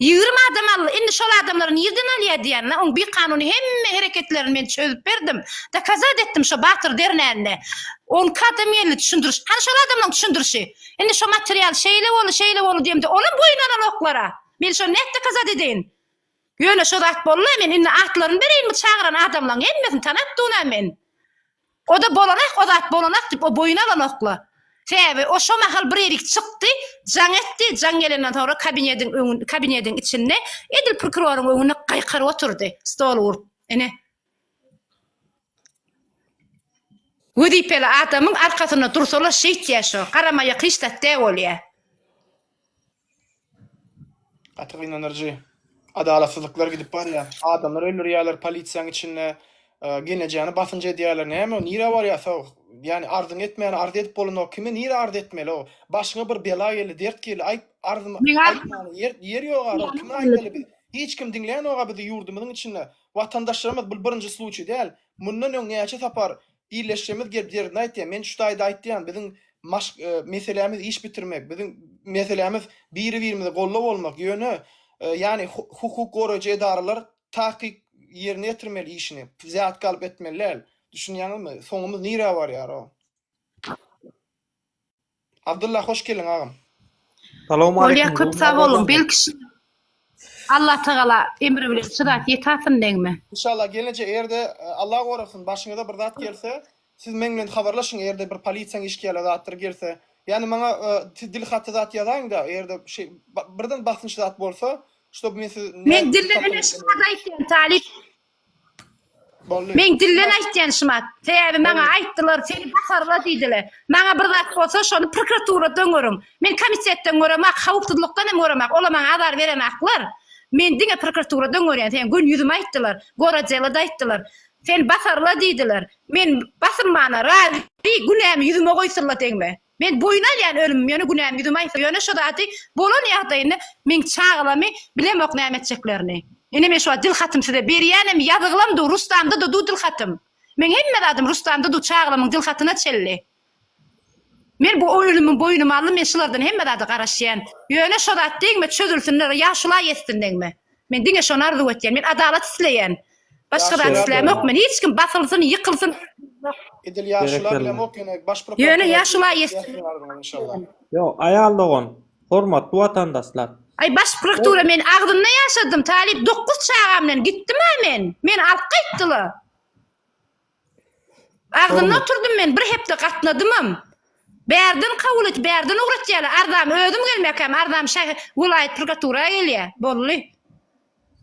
Ýigrimi adam aldy, indi şol adamlary nirden alýar diýýärler, oň bikanuny hemme hereketlerini men çözüp berdim, dokazat etdim şo Batyr dernände, on iki adam geldi düşündiriş, hany şol adamlaň düşündirişi, indi şo material şeýle boldy, şeýle boldy diýemde olam boýun alanoklara, men şony nädip dokazat edeýin, ýöne şo zat boldy-la, men indi atlaryny bereýinmi çagyran adamlaň hemmesini tanapdynam men, O-da bolanak, o zat bolanak diýip, o boýun alanok-la. Sebäbi o şo mahal bir ýerik çykdy, jaň etdi, jaň gelenden soňra kabinediň öňün, kabinediň içinde edil prokuroryň öňünde gaýkyryp oturdy, stoly urup. Ine. Wezipeli adamyň arkasynda dursa-la şeýtýär şo, garamaýak hiç zat dä bolýar. Gaty gynanyrjy. Adalatsyzlyklar gidip barýar. Adamlar öldürýärler polisiýaň içinde. Gelnejäni basynç edýärler. Näme o nirä barýarsa ýani arzyň etmäni arz edip bolanok. Kime nirä arz etmeli o. Başyňa bir bela geldi dert geldi aýt arzymy aýtmaly ýer ýer ýok ara kime aýtmaly biz hiç kim diňlänok a bizi ýurdumyzyň içinde watandaşlarymyz bul birinji sluçiý däl mundan öň näçe sapar Birleşjemiz gelip ýerini aýtýar. Men şu taýda aýtýan, biziň maşk meselämiz iş bitirmek, biziň meselämiz biri-birimizi gollap almak, ýöne ýany hukuk goraýjy edaralar takyk ýerine ýetirmeli işini, zätki alyp etmeli däl. Düşünýäňizmi? Soňumyz nirä barýar-ow? Abdylla hoş geldiň agam. Bolýa köp sag boluň belki şyna Allah tagala emri bilen şyrat ýetasyn nägme. Inşallah gelince erde Allah gorasyn başyňyza bir zat gelse siz meň bilen habarlaşyň erde bir polisiýaň işgiýala zatdyr gelse ýani maňa siz dil haty zat ýazaýyňda erde şy birden basynç zat bolsa ştob men siz. Men dilli öne şyna da aýtýan talyp Meň dilden aýtýanşym at. Sebäbi maňa aýtdylar, seni basarlar diýdiler. Maňa bir zat bolsa, şony prokuraturada öňüriň. Men komitetden göremok, howpsuzlykdan hem göremok. Olar maňa azar berenaklar. Men diňe prokuraturada öňürýän. Seniň gün ýüzüme aýtdylar, gorodelada aýtdylar. Seni basarlar diýdiler. Men basylmana razy, günämi ýüzüme goýsunlar degme. Men boýun alýan ölümim ýöne günäm ýüzüme aýtsa ýöne şo zady bolan ýagdaýynda meň çagalamy bilemok näme etjeklerini ine men şuwagt dil hatym size berýänem ýazyglam du rustamda da du dil hatym meň hemme zadym rustamda du çagalamyň dil hatyna çelli men bu ölümim boýnuma aldym men şulardan hemme zada garaşýan ýöne şo zat degme çözülsin ýa şulaý etsin degme men diňe şony arzuw etýän men adalat isleýän Başga zat islämokmen hiç kim basylsyn ýykylsyn. Edil ýaşula bilemok ýöne baş prokuraturadan. Ýöne ýaşula ýesdin. Ýok aýal dogan hormatly watandaşlar. Aý baş proktura men agzymda ýaşadym talyp dokuz çagamdan gitdimä men meni alyp gaýtdyla. Agzynda oturdym men, bir hepde gatnadymam. Bärden kabul et, bärden ugratýarlar. Arzam özüm gelmekäm, arzam şähe, welaýat prokuratura gelýär. Boldy.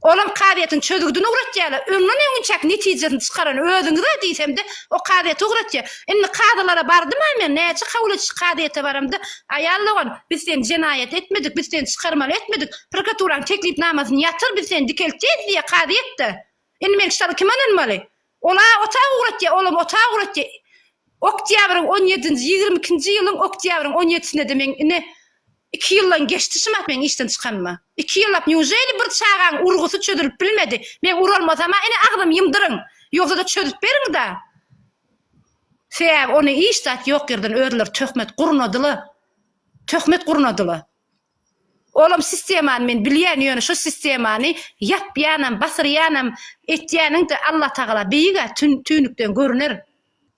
Olam kazyýetiň çözgüdini ugratýarlar. Öňden öňünçäki netijesini çykaran özüňiz-ä diýsemde, o kazyýete ugratýar. Indi kazylara bardym-a men, näçe kabul ediş kazyýete baramda, Aýal dogan, biz seni jenaýat etmedik, biz seni çykarmaly etmedik, prokuraturaň teklipnamasyny ýatyr, biz seni dikeltýeýs diýýär kazyýet-de. Indi men şulara kime ynanmaly? Ol-a otag ugratýa, olam otag ugratýa. Oktýabryň on ýedinji, ýigrimi ikinji ýylyň oktýabryň on ýedisinde-de meň ine, iki ýyldan geçdi şumat meň işden çykanyma. Iki ýyllap nýuželi bir çagaň urgusy çözülip bilmedi? Meň uralmasam-a ine agzymy ýymdyryň. Ýogsa-da çözüp beriň-da. Sebäbi ony hiç zat ýok ýerden özleri töhmet gurnadyla. Töhmet gurnadyla. Olam sistemany men bilýän ýöne şu sistemany ýapýanam basyrýanam etýäniňde Allah tagala beýigä tün tüýnükden görüner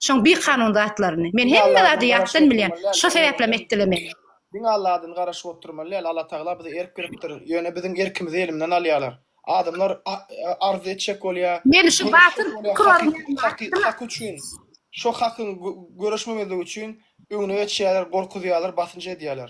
şoň bikanun zatlaryny men hemme zady ýatdan bilýän şo sebäplem etdiler meni. Diňe Allah adyny garaşyp oturmaly däl Allah tagala bize erk beripdir ýöne biziň erkimizi elimden alýalar adamlar arz etjek bolýa Meni şu batyr hak üçin şo hakyň göreşmemezligi üçin öňüne geçýäler gorkuzýalar basynç edýäler.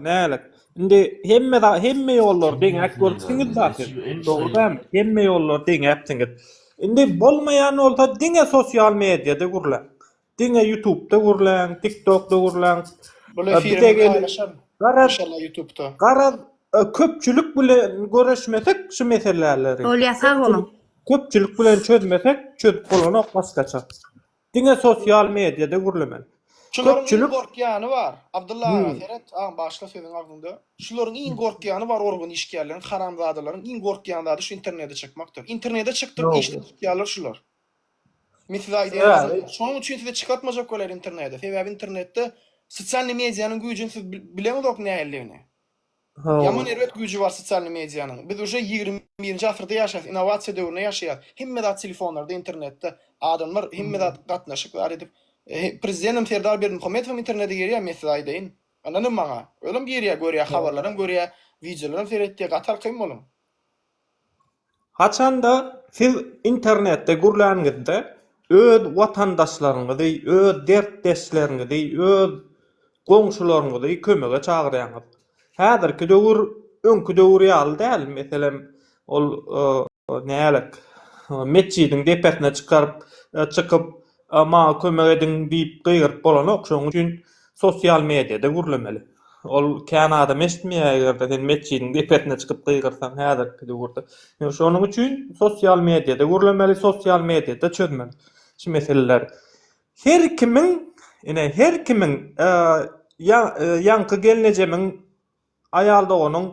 Nälet. Indi hemme hemme ýollary deňäp görüpsiňiz zaten. Dogry däl. Hemme ýollary deňäpsiňiz. Indi bolmaýan bolsa diňe sosial mediada gürläň. Diňe YouTube'da gürläň, TikTok'da gürläň. Bu efiri paýlaşaryn. Maşallah YouTube'da. Garaz köpçülik bilen görüşmesek şu meseleleri. Bolýa sag boluň. Köpçülik bilen çözmesek çözüp bolanok başgaça. Diňe sosial mediada gürlemeli. Şularyň iň gorkýany bar. Abdylla aga seret, agam bagyşla sözüň agzyňda. Şularyň iň gorkýany bar organ işgärleriň, haramzadalaryň iň gorkýan zady şu internede çykmakdyr. Internede çykdyryp işden tutýarlar şular. Men size aýdaýan adamlar. Şonuň üçin size çykartmajak bolýar internede. Sebäbi internetde sosialny medianyň güýjüni siz bileňizok nähilidigini. Ýaman erbet güýji bar sosialny medianyň. Biz uje ýigrimi birinji asyrda ýaşaýas, innowasiýa döwründe ýaşaýas. Hemme zat telefonlarda, internetde. Adamlar hemme zat gatnaşyk bar edip. Prezidentem Serdar Berdimuhamedowem internete girýär men size aýdaýyn. Ynanyň maňa. Özem girýär görýär habarlaram görýär, wideolaram seretýär, gaty alkaýyn boluň. Haçanda siz internetde gürlänizde öz watandaşlaryňyzy, öz dertdeşleriňizi, öz goňşularyňyzy kömege çagyrýaňyz. Häzirki döwür öňki döwür ýaly däl, meselem, ol nälik, metjidiň depesine çykaryp, çykyp, maňa kömek ediň diýip gygyryp bolanok. Şonuň üçin Sosial mediada gürlemeli. Ol kän adam eşitmeýär eger-de sen metjidiň depesine çykyp gygyrsaň häzirki döwürde. Ýöne şonuň üçin sosial mediada gürlemeli, sosial mediada çözmeli şu meseleleri. Her kimiň, ine, her kimiň, ýa, ýaňky gelnejemiň Aýal doganyň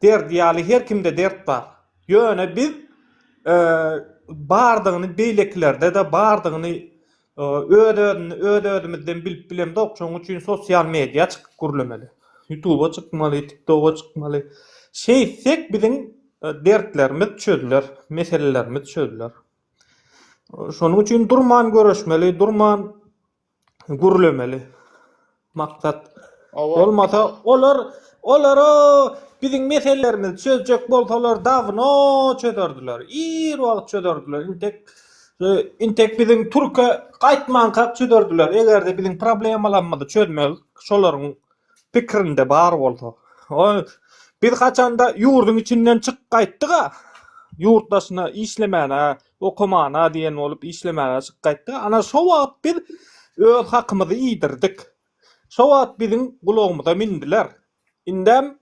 derdi ýaly her kimde dert bar. Ýöne biz bardygyny beýlekilerde-de bardygyny öz-özümizden bilip bilemzok. Şonuň üçin sosial media çykyp gürlemeli. Ýutuba çykmaly, tiktoga çykmaly. Şeýtsek biziň dertlerimiz çözüler, meselelerimiz çözüler. Şonuň üçin durman göreşmeli, durman gürlemeli maksat bolmasa olar olar o biziň meselelerimizi çözjek bolsalar dawno çözerdiler ir wagt çözerdiler intek intek biziň türke gaýtmankak çözerdiler egerde biziň problemalarymyzy çözmeli şolaryň pikirinde bar bolsa biz haçanda ýurduň içinden çykyp gaýtdyga ýurt daşyna işlemäne Okamana diýen bolup işlemäge çykyp gaýtdyk. Ana şo wagt biz öz hakymyzy iýdirdik. Şo wagt biziň gulagymyza mindiler. Indem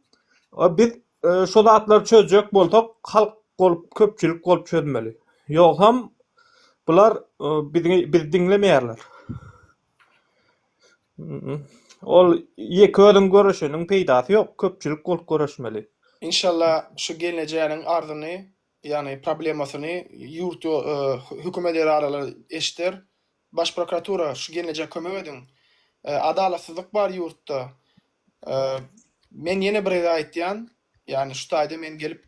biz şo zatlary çözjek bolsak halk bolup köpçülik bolup çözmeli. Ýogsam bular bizi diňlemeýärler. Ol ýeke özüň göreşeniň peýdasy ýok, köpçülik bolup göreşmeli. Inşallah şu geljäniň arzyny ýagny problemasyny ýurt ýo hökümet edaralar eşder. Baş prokuratura şu gelnejä kömek ediň. Adalatsyzlyk bar ýurtda. Men ýene bir ede aýtýan, ýagny şu taýda men gelip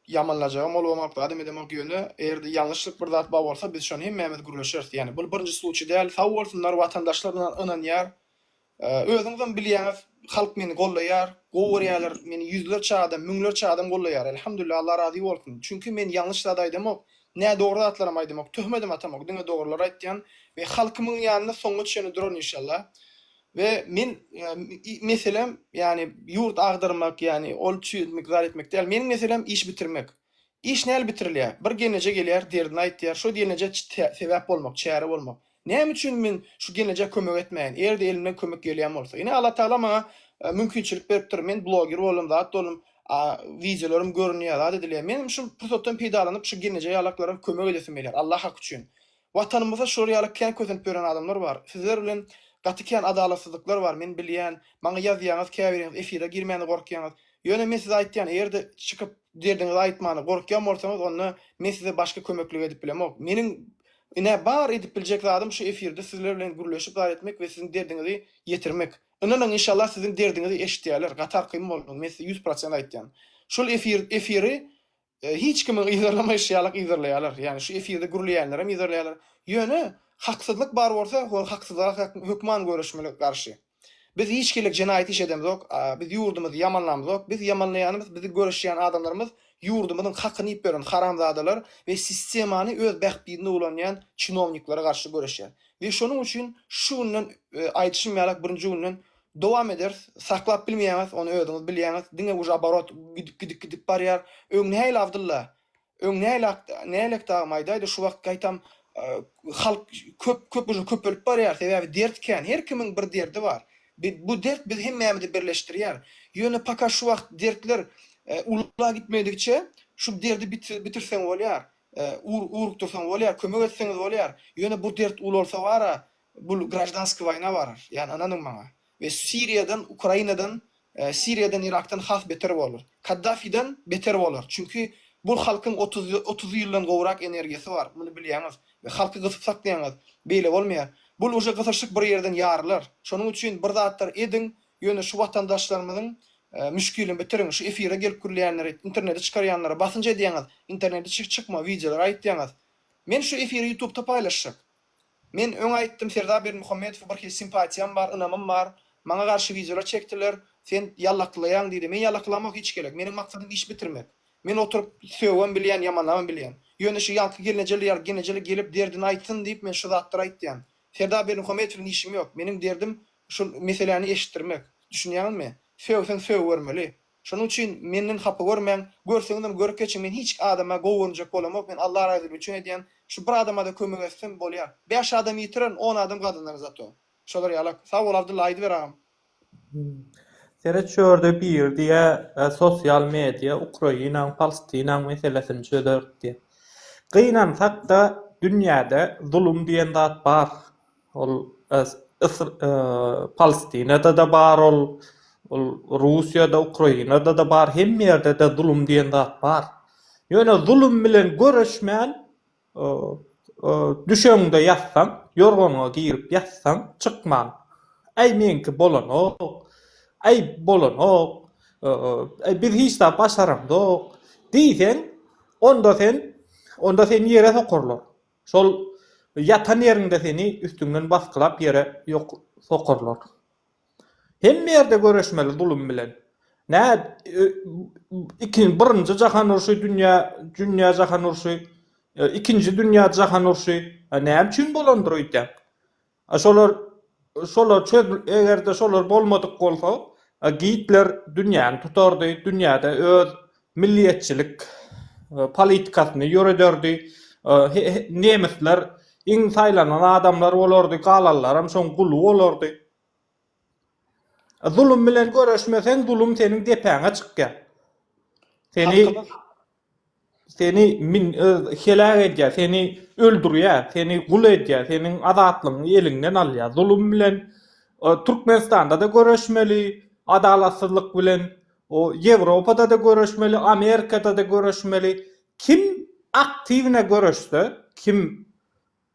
ýamanlajagym bolgamok, zadam edemok ýöne eger-de ýalňyşlyk bir zat bar bolsa biz şony hemmämiz gürleşeris. Ýagny bul birinji sluçiý däl. Sag bolsunlar watandaşlar ynanýar. Özüňizem bilýäňiz halk meni gollaýar, gowy görýärler, meni ýüzlerçe adam, müňlerçe adam gollaýar. Elhamdülillah Allah razy bolsun. Çünki men ýalňyş zat aýdamok, nädogry zatlaram aýdamok, töhmedem atamok, diňe dogrylary aýtýan we halkymyň ýanynda soňuna çenli duran inşallah. We men meselem ýani ýurt agdarmak ýani ol çüýetmek zat etmek däl. Meniň meselem iş bitirmek. Iş näl bitirilýär? Bir gelneje gelýär derdini aýtýar, şo gelneje sebäp bolmak, çäre bolmak. Näme üçin men şu geljä kömek etmäýin, eger-de elimden kömek gelýän bolsa. Ine Allatagala maňa mümkinçilik beripdir, men bloger boldum, zat boldum, wideolarym görünýär, zat edilýär. Men hem şu pursatdan peýdalanyp şu gelneje ýalaklara kömek edesim gelýär, Allah haky üçin. Watanymyzda şular ýaly kän kösenip ýören adamlar bar. Sizler bilen gaty kän adalatsyzlyklar bar, men bilýän. Maňa ýazýaňyz, käbiriňiz efire girmäne gorkýaňyz. Ýöne men size aýtýan, eger-de çykyp derdiňizi aýtmana gorkýan bolsaňyz, onda men size başga kömeklik edip bilemok. Meniň Ine, bar edip biljek zadym şu efirde sizler bilen gürleşip zat etmek we siziň derdiňizi ýetirmek. Ynanyň, inşallah siziň derdiňizi eşidýärler, gatarkym bolduň, men size ýüz prosent aýtýan. Şul efir, efiri hiç kimiň yzarlamaýşy ýalyk yzarlaýarlar. Ýagny şu efirde gürleýänlerem yzarlaýarlar. Ýöne haksyzlyk bar bolsa, hol haksyzlyga hökman göreşmeli garşy. Biz hiç hili jenaýat iş edemzok, biz ýurdumyzy ýamanlamzok, biz ýamanlaýanymyz bizi göreşýän adamlarymyz ýurdumyzyň hakyny iýip ýören haramzadalar we sistemany öz bähbidine ulanýan çinowniklara garşy göreşýär we şonuň üçin şu günden aýdyşym ýalak birinji günden dowam ederis, saklap bilmeýäňiz ony özüňiz bilýäňiz, diňe uje oborot gidip gidip gidip barýar, öň nähili Abdylla Öň näleak näleak dagy maýdaýdy şu wagt gaýtam halk köp köp uje köpelip barýar sebäbi dert kän her kimiň bir derdi bar bu dert biz hemmämizi birleşdirýär ýöne paka şu wagt dertler ulla gitmedigiçe şu derdi bitirseň bolýar ugrukdyrsaň bolýar kömek etseňiz bolýar ýöne bu dert ulalsa bara Bul graždanskiý waýna barar ýan ynanyň maňa we siriýadan ukrainadan siriýadan irakdan has beter bolar kaddafiden beter bolar çünki bul halkyň otuz otuz ýyldan gowrak energiýasy bar muny bilýäňiz we halky gysyp saklaýaňyz beýle bolmaýar bul uje gysyşyk bir ýerden ýarylar şonuň üçin bir zatlar ediň ýöne şu watandaşlarymyzyň müşkilini bitiriň şu efire gelip gürleýänleri internete çykarýanlara basynç edýäňiz internete çykma wideolar aýytýaňyz men şu efiri ýutubda paýlaşjak Men öň aýtdym Serdar Berdimuhamedowa bir hili simpatiýam bar, ynamym bar. Maňa garşy wideolar çekdiler, sen ýallakylaýaň diýdi. Men ýallakylamok hiç gelek. Meniň maksadym iş bitirmek. Men oturyp sögem bilýän, ýamanlamam bilýän. Ýöne şu ýaňky gelnejeli ýaly genejeli gelip derdini aýtsyn diýip men şu zatlary aýtýan. Serdar Berdimuhamedow bilen işim ýok. Meniň derdim şu meseläni eşitdirmek. Düşünýäňizmi? Sögseň sögübermeli. Şonuň üçin menden hapa görmäň. Görseňiz ony görüp geçiň. Men hiç adama gowy görünjek bolamok. Men Alla razylygy üçin edýän. Şu bir adama-da kömek etsem, bolýar. Bäş adam ýitirerin, on adam gazanarin zato. Şolar ýalak. Sag bol, Abdylla, aýdyber agam. Seret şu ýerde biri diýýä sosial media Ukrainaň Palstinaň meselesini çözerik diýýä. Gynansak-da dünýäde zulum diýen zat bar. Ol Palestinada-da bar ol, ol Russiýada, Ukrainada-da bar, hemme ýerde-de zulum diýen zat bar. Ýöne zulum bilen göreşmän düşegiňde ýatsaň, ýorganyňa girip ýatsaň, çykman, Äý meňki bolanok, äý bolanok, äý biz hiç zat başaramzok diýseň, onda sen, onda seni ýere sokarlar. Şol ýatan ýeriňde seni üstüňden basgylap ýere sokarlar. Hemme ýerde göreşmeli zulum bilen. Nä ikin birinji jahan urşy dünýä dünýä jahan urşy ikinji dünýä jahan urşy näme üçin bolandyr öýdýäň. A şolar şolar çöz egerde şolar bolmadyk bolsa Gitler dünýäni tutardy dünýäde öz milliýetçilik politikasyny ýörederdi nemisler iň saýlanan adamlar bolardy galanlaram şoň guly bolardy. Zulum bilen göreşmeseň, zulum seniň depäňe çykýar. Seni seni min e, heläk edýär, seni öldürýär, seni gul edýär, seniň azatlygyňy eliňden alýar. Zulum bilen e, Türkmenistanda-da göreşmeli, adalatsyzlyk bilen o Ýewropada-da göreşmeli, Amerikada-da göreşmeli. Kim aktiwne göreşse, kim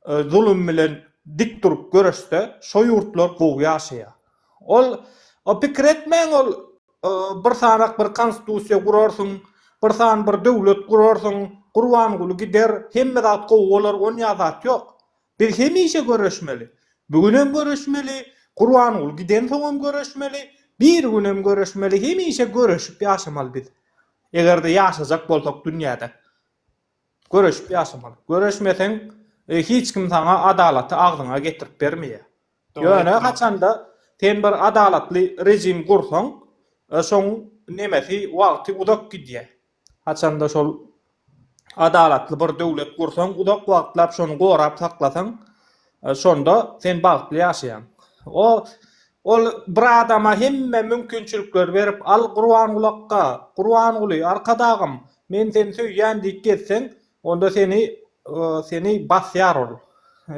zulum bilen dik durup göreşse şo ýurtlar gowy ýaşaýar. Ol o pikir etmäň ol bir sanak bir konstitusiýa gurarsyň, bir san bir döwlet gurarsyň, Gurbanguly gider, hemme zat gowy bolar onýa zat ýok. Biz hemişe göreşmeli. Bu günem göreşmeli, Gurbanguly giden soňam göreşmeli, bir günem göreşmeli hemişe göreşip ýaşamaly biz. Egerde ýaşajak bolsak dünýäde. Göreşip ýaşamaly. Göreşmeseň, hiç kim saňa adalaty agzyňa getirip bermeýär. Ýöne haçanda sen bir adalatly režim gursaň, şoň nemesi, wagty uzak gidýär. Haçanda şol adalatly bir döwlet gursaň, uzak wagtlap şony gorap saklasaň, Şonda sen bagtly ýaşaýaň. O Ol bir adama hemme mümkinçilikleri berip, Al, Gurbangulakka, Gurbanguly, Arkadagym, men seni söýýän diýip gezseň, onda seni seni basýar ol.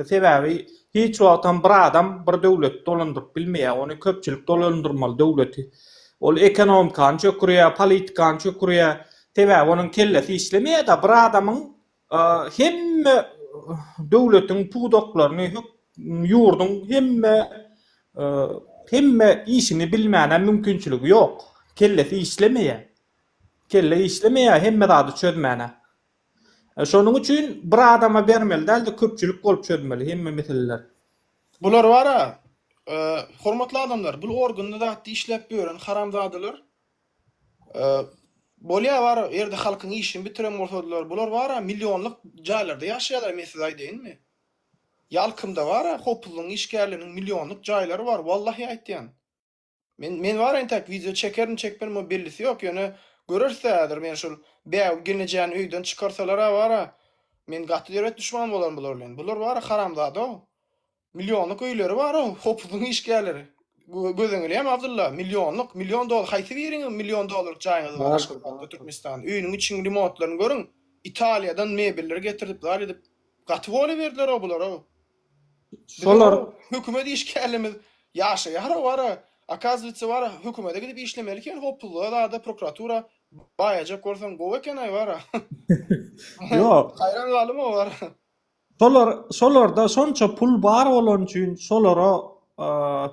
Sebäbi hiç wagtam bir adam bir döwleti dolandyryp bilmeýär. Ony köpçülik dolandyrmaly döwleti. Ol ekonomikany çökürýär, politikany çökürýär. Sebäbi onuň kellesi işlemeýär-de. Bir adamyň hemme döwletiň pudaklaryny, ýurduň hemme hemme işini bilmäne mümkinçiligi ýok. Kellesi işlemeýär. Kelle işlemeýär hemme zady çözmäne. Şonuň üçin bir adama bermeli däl-de, köpçülik bolup çözmeli hemme meseleleri. Bular bar-a, hormatly adamlar, bul organda zatda işläp ýören haramzadalar Bolýa bar ýerde halkyň işini bitiren bolsadylar bular bara millionlyk jaýlarda ýaşaýalar men size aýdaýynmy? Ýalkymda bara hopuzlygyň işgärleriniň millionlyk jaýlary bar wallahy aýtýan. Men men bara entäk wideo çekerin çekmerin muň bellisi ýok ýöne göreris dä häzir men şul Bägül gelnejäni öýden çykarsalara bara men gaty döwlet duşmany bolaryn bular bilen bular bara haramzada Millionlyk öýleri bar o hopuzyň işgärleri. Göz öňüleýämi Abdylla? Millionlyk, million dollar haýsy biriňiziň million dollarlyk jaýyňyz bar Aşgabatda, Türkmenistanda? Öýüniň içiniň remotlaryny görüň. Italiýadan mebelleri getirip zar edip gaty boluberdiler-ow bular-ow. Biziň o hökümet işgärlerimiz ýaşaýar-ow ara. Okazywetse bara hökümede gidip işlemeli eken hopuzlyga zada prokuratura baýajak bolsaň gowy eken-aý bara. Haýran galdym-ow bara. Şolar, şolarda şonça pul bar bolany üçin şolara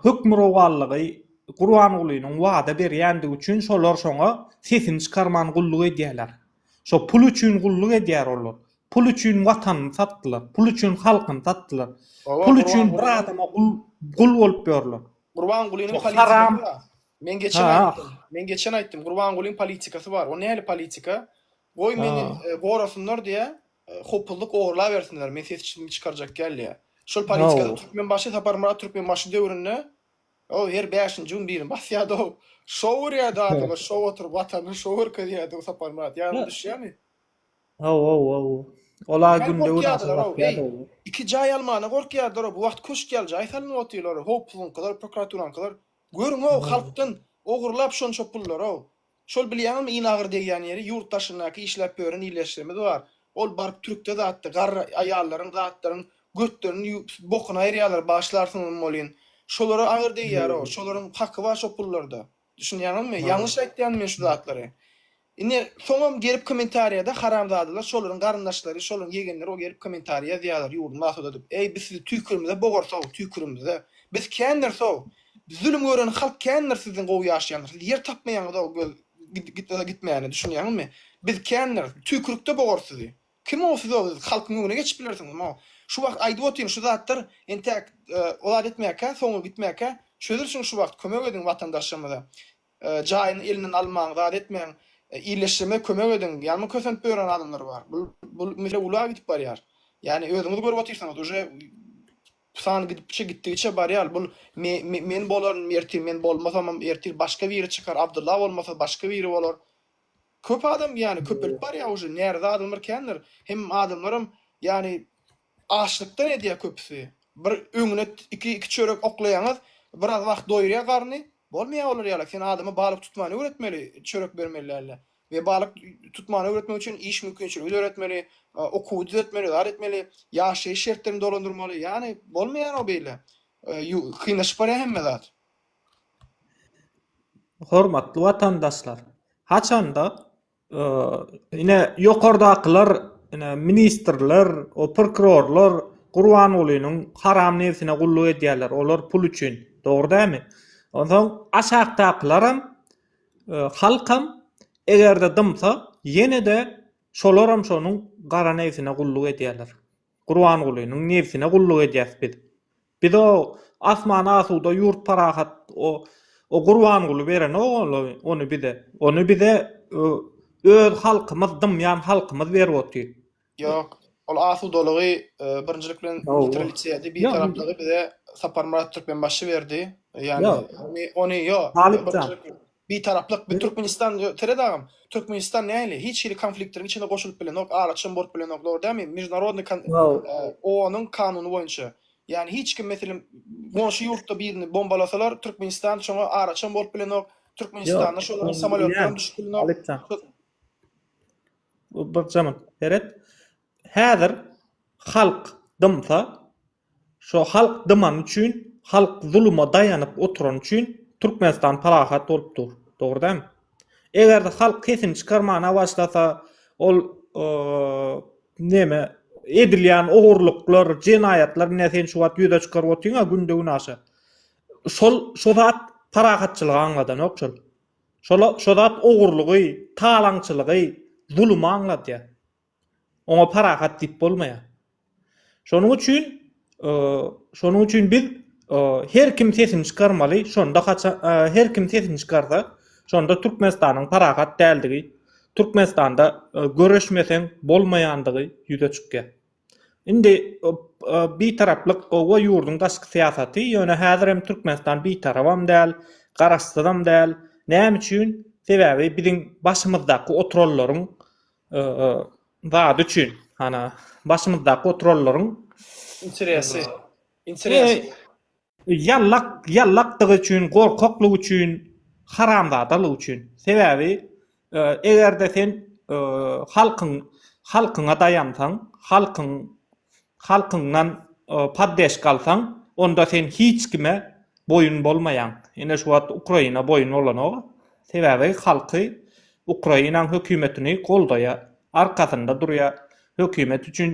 hökmürowanlygy Gurbangulynyň wada berýändigi üçin şolar şoňa sesini çykarman gulluk edýärler. Şo pul üçin gulluk edýär olar. Pul üçin watanyny satdylar. Pul üçin halkyny satdylar. Pul üçin bir adama gul, gul bolup ýörler. Gurbangulynyň politikasy bar. Men geçen aýtdym. Men geçen aýtdym. Gurbangulyň politikasy bar. O nähili politika? Goý meni gorasynlar diýýär. Hopuzlyk ogurlabersinler men ses çytmy çykarjak gelýä. Şol politikada Türkmenbaşy Saparmyrat Türkmenbaşy döwründe o her bäşinji gün birini basýardy o şou urýardy adama şou oturyp watanyny şou görkezýärdi o Saparmyrat ýadyňa düşýärmi? Haw haw haw ola günde bir aşa basýardy o. Iki jaý almana gorkýardylar o bu wagt köşk ýaly jaý salyn otylar o hopuzlyňkylar prokuraturanyňkylar görüň o halkdan ogurlap şonça pullary o Şol bilýäňizmi iň agyr degýän ýeri ýurt daşyndaky işläp ýören ildeşlerimiz bar. Ol baryp türkde zatda garry aýallaryň zatlaryň götlerini ýuwup bokuny aýyrýarlar başlarsyňyzmy welin. Şolara agyr degýäro. Şolaryň haky bar şo pullarda. Düşünýäňizmi? Ýalňyş aýtýanmy men şu zatlary? Ine soňam gelip kommentariýada haramzadalar şolaryň garyndaşlary şolaryň ýegenleri ol gelip kommentariýa ýazýarlar ýurduny asuda edip. Eý biz sizi tüýkürimize bogarsow tüýkürimize. Biz kändir sow. Zulum gören halk kändir siziň gowy ýaşaýanyňyz siz ýer tapmaýaňyz o göz gitmese gitmäne düşünýäňizmi biz kändir tüýkürikde bogar sizi kim o siz o siz halkyň öňüne geçip bilersiňiz mo şu wagt aýdyp otyryn şu zatlar entäk o zat etmäkä soňy gitmäkä çözülsin şu wagt kömek ediň watandaşlarymyza jaýyny elinden almaň zat etmäň illeşdirme kömek ediň ýalma kösenip bören adamlar bar bul bul mesele ula gidip barýar ýani özüňiz görüp otyrsyňyz uje Bu sany gidipçe gitdigiçe barýar. Bul me me men bolaryn ertir, men bolmasamam ertir başga biri çykar, Abdylla bolmasa başga biri bolar. Köp adam ýany köpelip barýar uje, närize adamlar kändir. Hem adamlaram ýany açlykdan edýär köpüsi. Bir öňüne iki iki çörek oklaýaňyz, biraz wagt doýurýar garny, bolmaýar olar ýaly. Sen adama balyk tutmany öwretmeli, çörek bermeli dälde. we balyk tutmany öwretmek üçin iş mümkinçiligi döretmeli, okuwy düzetmeli, zat etmeli, ýaşaýyş şertlerini dolandyrmaly. Ýagny bolmaýar o beýle. Kynlaşyp barýar hemme zat. Hormatly watandaşlar, haçanda ine ýokardakylar ine ministrler, o prokurorlar Gurbangulynyň haram nebsine gulluk edýärler, olar pul üçin. Dogry dälmi? Onsoň aşakdakylaram Halkam, eger-de dymsa, ýene-de şolaram şonuň gara nebsine gulluk edýärler. Gurbangulynyň nebsine gulluk edýäs biz. Biz o asman asuda, ýurt parahat, o o Gurbanguly berenok ony bize. Ony bize öz halkymyz, dymýan halkymyz berip otyr. Ýok. Ol asudalygy birinjilik bilen neutralisedi, bir taraplygy bize Saparmyrat Türkmenbaşy berdi. Ýani ony ony ýok. Bir taraplyk bir Türkmenistan seret agam. Türkmenistan näli? Hiç hili konfliktleriň içine goşulyp bilenok, araçam bolup bilenok, dogry dälmi? Mejnarodny OON-yň kanuny boýunça. Ýani hiç kim meselem goňşy ýurtda birini bombalasalar, Türkmenistan şoňa araçam bolup bilenok. Türkmenistanda şolaryň samolýotlary düşüp bilenok. Seret, häzir halk dymsa, şo halk dymany üçin, halk zuluma daýanyp oturany üçin Türkmenistan parahat bolup dur. Dogry dälmi? Eger-de halk sesini çykarmana başlasa, ol neme, edilýän ogurlyklar, jenaýatlar, ine sen şu wagt ýüze çykaryp otyň-a günde-günaşa. Şol, şo zat parahatçylygy aňladanok şol. Şo zat ogurlygy, talaňçylygy, zulumy aňladýar. Oňa parahat diýip bolmaýar. Şonuň üçin, şonuň üçin biz her kim sesini çykarmaly, şonda her kim sesini çykarsa, şonda Türkmenistanyň parahat däldigi, Türkmenistanda göreşmeseň bolmaýandygy ýüze çykýar. Indi Bitaraplyk gowa ýurduň daşky syýasaty, ýöne häzir hem Türkmenistan Bitarabam däl, Garaşsyzam däl. Näme üçin? Sebäbi biziň başymyzdaky oturanlaryň zady üçin, hana, başymyzdaky oturanlaryň Interesi. Interesi. Ýallak ýallakdygy üçin gorkaklygy üçin haramzadalygy üçin sebäbi egerde sen halkyň halkyňa daýansaň halkyň halkyňdan paddeşka alsaň onda sen hiç kime boýun bolmaýaň ine şu wagt ukraina boýun bolanok sebäbi halky ukrainaň hökümetini goldaýa arkasynda durýa hökümet üçin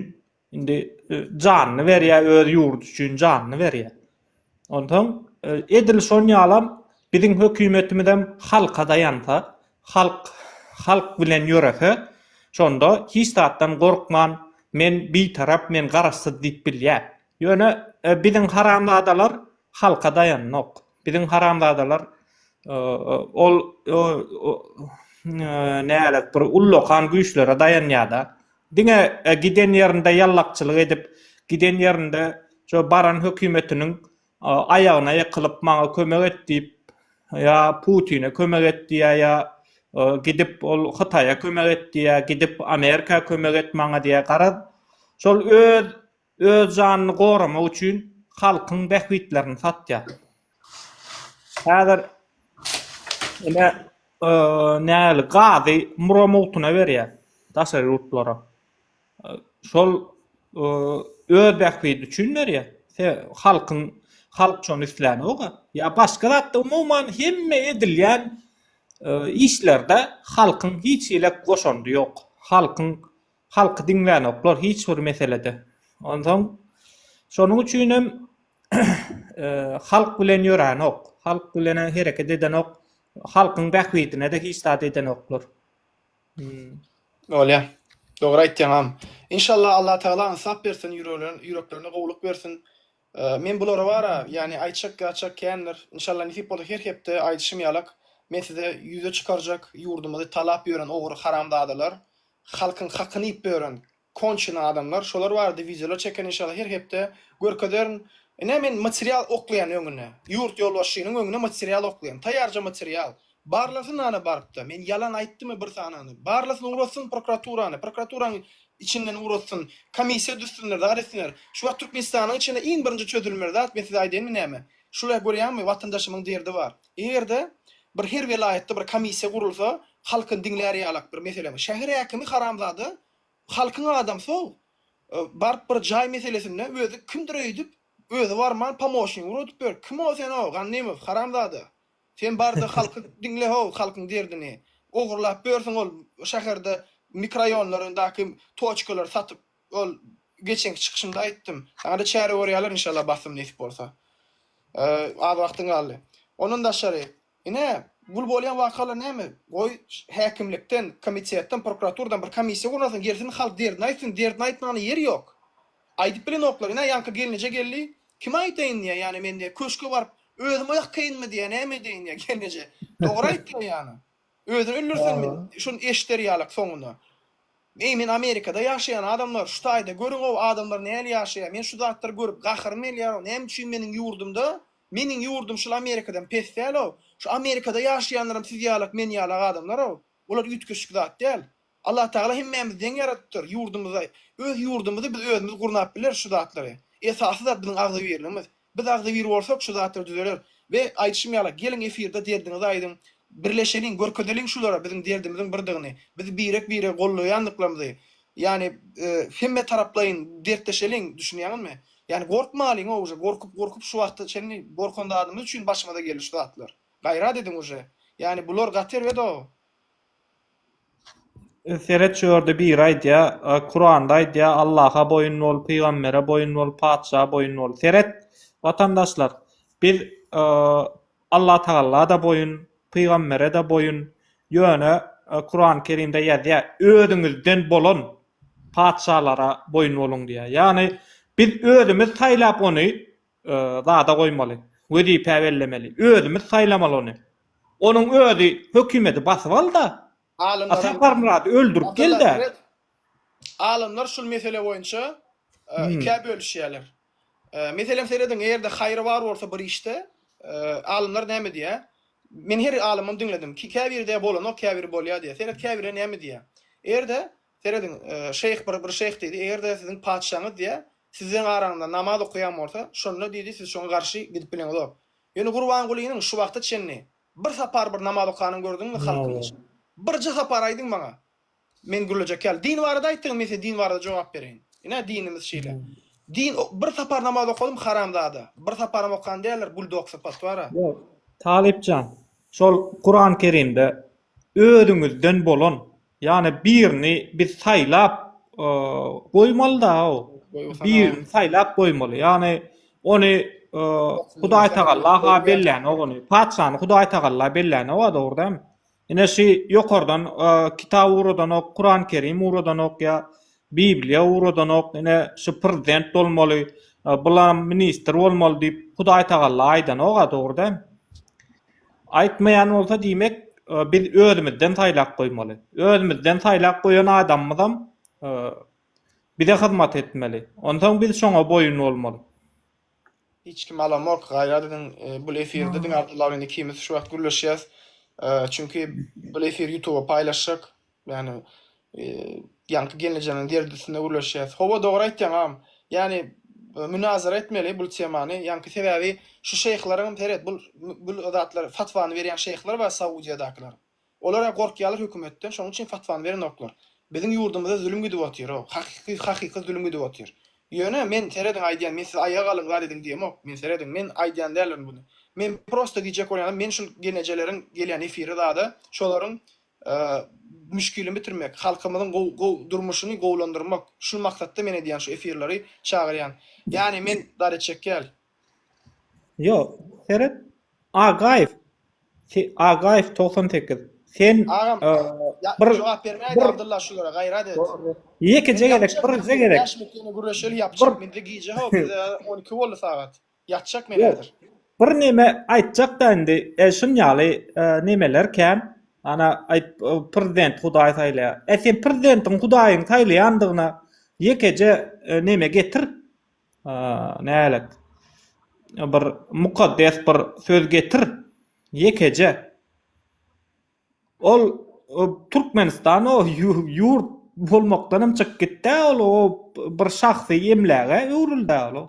Indi janyny berýär, öz ýurdy üçin janyny berýär. Onsoň e, edil şon ýalam biziň hökümetimizem halka daýansa, halk halk bilen ýörese, şonda hiç zatdan gorkman, men bitarap, men garaşsyz diýip bilýär. Ýöne e, biziň haramzadalar halka daýanok. Biziň haramzadalar e, ol nälet bir ullakan güýçlere daýanýar-da. Diňe giden ýerinde ýallakçylyk edip, giden ýerinde şo baran hökümetiniň aýagyna ýykylyp, maňa kömek et diýip, ýa Putine kömek et diýýär, ýa gidip ol Hytaýa kömek et diýýär, gidip Amerika kömek et maňa diýýär. Garaz, şol öz Öz janyny goramak üçin halkyň bähbitlerini satýar. Häzir ine nähili gazy mura mugtuna berýär daşary ýurtlara. Şol öz bähbidi üçin berýär. Halkyň halk şony isläňoga. Ýa başga zatda umuman hemme edilýän işlerde halkyň hiç hili goşandy ýok. Halkyň Halky diňlänoklar hiç bir meselede. Onsoň şonuň üçin hem halk bilen ýöränok. Halk bilen hereket edenok. Halkyň bähbidine-de hiç zat edenoklar. Bolýar. Dogry aýtýaňam. Inşallah Allatagala ynsap bersin, ýüreklerine gowulyk bersin. Men bulara bara, ýagny aýtjak ýatjak kändir. Inşallah nesip bolsa her hepde aýdyşym ýalak men size ýüze çykarjak ýurdumyzy talap ýören ogry haramzadalar, halkyň hakyny iýip ýören konçene adamlar şolar barada wideolar çekerin inşallah her hepde görkezerin. Ine men material oklaýan öňüne, ýurt ýolbaşçynyň öňüne material oklaýan, taýýarja material, Barlasyn ana barypda men ýalan aýtdymy bir sanany barlasyn ugratsyn prokuraturany prokuraturanyň içinden ugratsyn komissiýa düzsünler zat etsinler şu wagt Türkmenistanyň içinde iň birinji çözülmeli zat men size aýdaýynmy näme şular görýäňmi watandaşymyň derdi bar egerde bir her welaýatda bir komissiýa gurulsa halkyny diňlär ýalak bir meselemi şäher häkimi haramzada halkyň adamsy-ow baryp bir jaý meselesinde özi kimdir öýdüp özi barman pomosnigi ugradyp ýör kim-ow sen-ow Gannymow haramzada Sen barda halky diňle how halkyň derdini. Ogurlap börsün ol şaherde mikroýonlary daky toçkalary satyp ol geçenki çykyşymda aýtdym. Saňada çäre görýäler inşallah basym nesip bolsa. Az wagtyň galdy. Ondan daşary ine gul bolýan wakalar näme goý häkimlikden komitetden prokuraturadan bir komissiýa gurnasyn gelsin halk derdini aýtsyn derdini aýtmana ýer ýok. Aýdyp bilenoklar ine ýaňky gelneje geldi Kime aýtaýyn diýýä ýane men diýýä köşke baryp özüm oýak kynmy diýýä näme edeýin diýýä gelneje dogry aýtýa ýane özün öldürsen şuny eşder ýalak soňuna eý men amerikada ýaşaýan adamlar şu taýda görüň ow adamlar näli ýaşaýa men şu zatlary görüp gaharym gelýär ow näme üçin meniň ýurdumda meniň ýurdum şul amerikadan pes däl ow şu amerikada ýaşaýanlaram siz ýalak men ýalak adamlar ow bular üýtgeşik zat däl Allah Tagala hemmämizi deň ýaradypdyr, ýurdumyza, öz ýurdumyzy biz özümiz gurnap bileris şu zatlary. Esasy zat biziň agzybirligimiz. Biz agzybir bolsak şu zatlar düzeler. We aýdyşym ýaly, geliň efirde derdiňizi aýdyň, birleşeliň, görkezeliň şulara biziň derdimiziň birdigini, bizi birek biregi gollaýandyklarymyzy, ýani hemme taraplaýyn dertleşeliň, düşünýäňizmi? Ýani gorkmalyň-a uje, gorkup gorkup şu wagta çenli gorkan zadymyz üçin başymyza geldi şu zatlar. Gaýrat ediň uje. Ýani bular gaty erbet-ow. Seret şu ýerde biri aýdýa, Kuranda aýdýa, Allaha boýun bol, pygambere boýun bol, patyşa boýun bol. Seret, watandaşlar, biz Allatagalla-da boýun, pygambere-de boýun, ýöne Kurany Kerimde ýazýa, özüňizden bolan patyşalara boýun boluň diýýä. Ýagny biz özümiz saýlap ony zada goýmaly. Wezipä bellemeli. Özümiz saýlamaly ony. Onuň özi hökümedi basyp al-da, a Saparmyrady öldürip gel-dä. Alymlar şul mesele boýunça ikä bölüşýärler. Meselem serediň, eger-de haýry bar bolsa bir işde, alymlar näme diýýär? Men her alymyň diňledim. Käbiri-de bolanok, käbiri bolýar diýýär. Seret, käbiri näme diýýär? Eger-de Serediň, şeýh bir bir şeýh diýdi, Eger-de siziň patyşaňyz, diýýä, sizleň araňyzda namaz okaýan bolsa, şonda, diýdi, siz şoňa garşy gidip bileňizok. Ýöne Gurbangulynyň şu wagta çenli bir sapar bir namaz okanyny gördüňmi halkyň içinde? Birje sapar aýdyň maňa. Men gürlejek ýaly. Din barada aýtdyňmy, men size din barada jogap bereýin. Ine, dinimiz şeýle. Din bir sapar namaz okadym, haramzada. Bir saparam okan däldir, buldoksy potwara. Ýok, Talyp jan, şol Kuran-Kerimde özüňizden bolan Ýani birini biz saýlap goýmaly da-ow. Birini saýlap goýmaly. Ýani ony Hudaý Tagalla ha bellänok ony. Patyşany Hudaý Tagalla bellänok-a dogry dämi? Ine şi ýokardan kitap ugradanok, Kuran Kerim ugradanok ýa Bibliýa ugradanok, ine şi prezident bolmaly, bulam ministr bolmaly diýip Hudaý Tagalla aýdanok-a dogry dämi? Aýtmaýan bolsa diýmek biz özümizden saýlap goýmaly. Özümizden saýlap goýan adamymyzam bize hyzmat etmeli. Onsoň biz şoňa boýun bolmaly. Hiç kim alamok gaýra biziň bul efirde diňe Abdulla bilen ikimiz şu wagt gürleşýäs. Çünki bul efir ýutuba paýlaşjak. Ýagny ýaňky gelnejemiň derdisine gürleşýäs. Howa dogry aýtýaň agam. Ýagny münazara etmeli bul temany. Ýaňky sebäbi şu şeýhleriňem seret bul bul zatlar fatwany berýän şeýhler bar Saudiýadakylar. Olara gorkýarlar hökümetden şonuň üçin fatwany berenoklar. Biziň ýurdumyzda zulum gidip otyr o hakyky hakyky zulum gidip otyr. Ýöne men serediň aýdýan men siz aýaga galyň zat ediň diýemok. Men serediň men aýdýan däldirin buny. Men prosta diýjek bolýanym men şul gelnejeleriň gelýän efiri zada şolaryň müşgilini bitirmek, halkymyzyň durmuşyny gowulandyrmak, şul maksatda men edýän şu efirleri çagyrýan. Ýani men dareçekýal. Ýok, seret. Agaýew. Agaýew togsan sekiz. Sen Agam, bir jogap bermäý Abdylla şulara gaýrat et. Ýekeje gezek, birje gezek. Ýaşmyk ýene gürleşeli ýapjak. Mende gije hop, bize on iki boldy sagat. Ýatjak men häzir. Bir neme aýtjakda indi e şun ýaly e nemeler kän ana aýt prezident hudaý saýlaýar e sen prezidentiň hudaýyň saýlaýandygyna ýekeje e neme getir e nälet e bir mukaddes bir söz getir ýekeje ol o türkmenistan o ýurt bolmakdanam çykyp gitdä ol o bir şahsy emläge öwrüldä ol.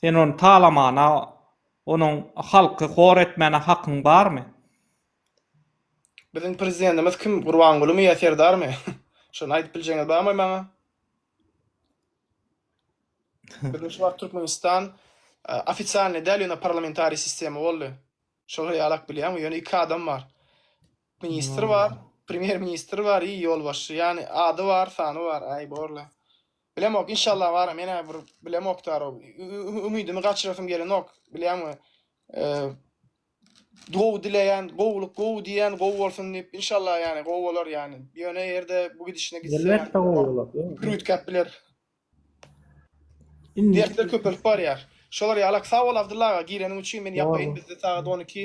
Sen ony talamana, onuň halky hor etmäne hakyň barmy? Biziň prezidentimiz kim, Gurbangulymy ýa Serdarmy? Şony aýdyp biljegiňiz barmy maňa? Biziň şu wagt Türkmenistan ofisialny däl ýöne parlamentariý sistema boldy. Şol hyýalak bilýäňmi? Ýöne iki adam bar. Ministr bar, premýer ministr bar i ýolbaşçy. Ýani ady bar, sany bar. Aý borla. Bilemok inşallah bara menä bir bilemok daro. Ümidimi gaçyrasym gelenok. Bilýäňmi? Gowy dileýän, gowulyk gowy diýen gowy bolsun diýip inşallah ýani gowy bolar ýani. Ýöne ýerde bu gidişine gitse. Elbetde gowy bolar. Gürütgäp biler. Dertler köpelip barýar. Şolar ýalak sag bol Abdylla aga gireniň üçin men ýapayyn bizde sagat 12.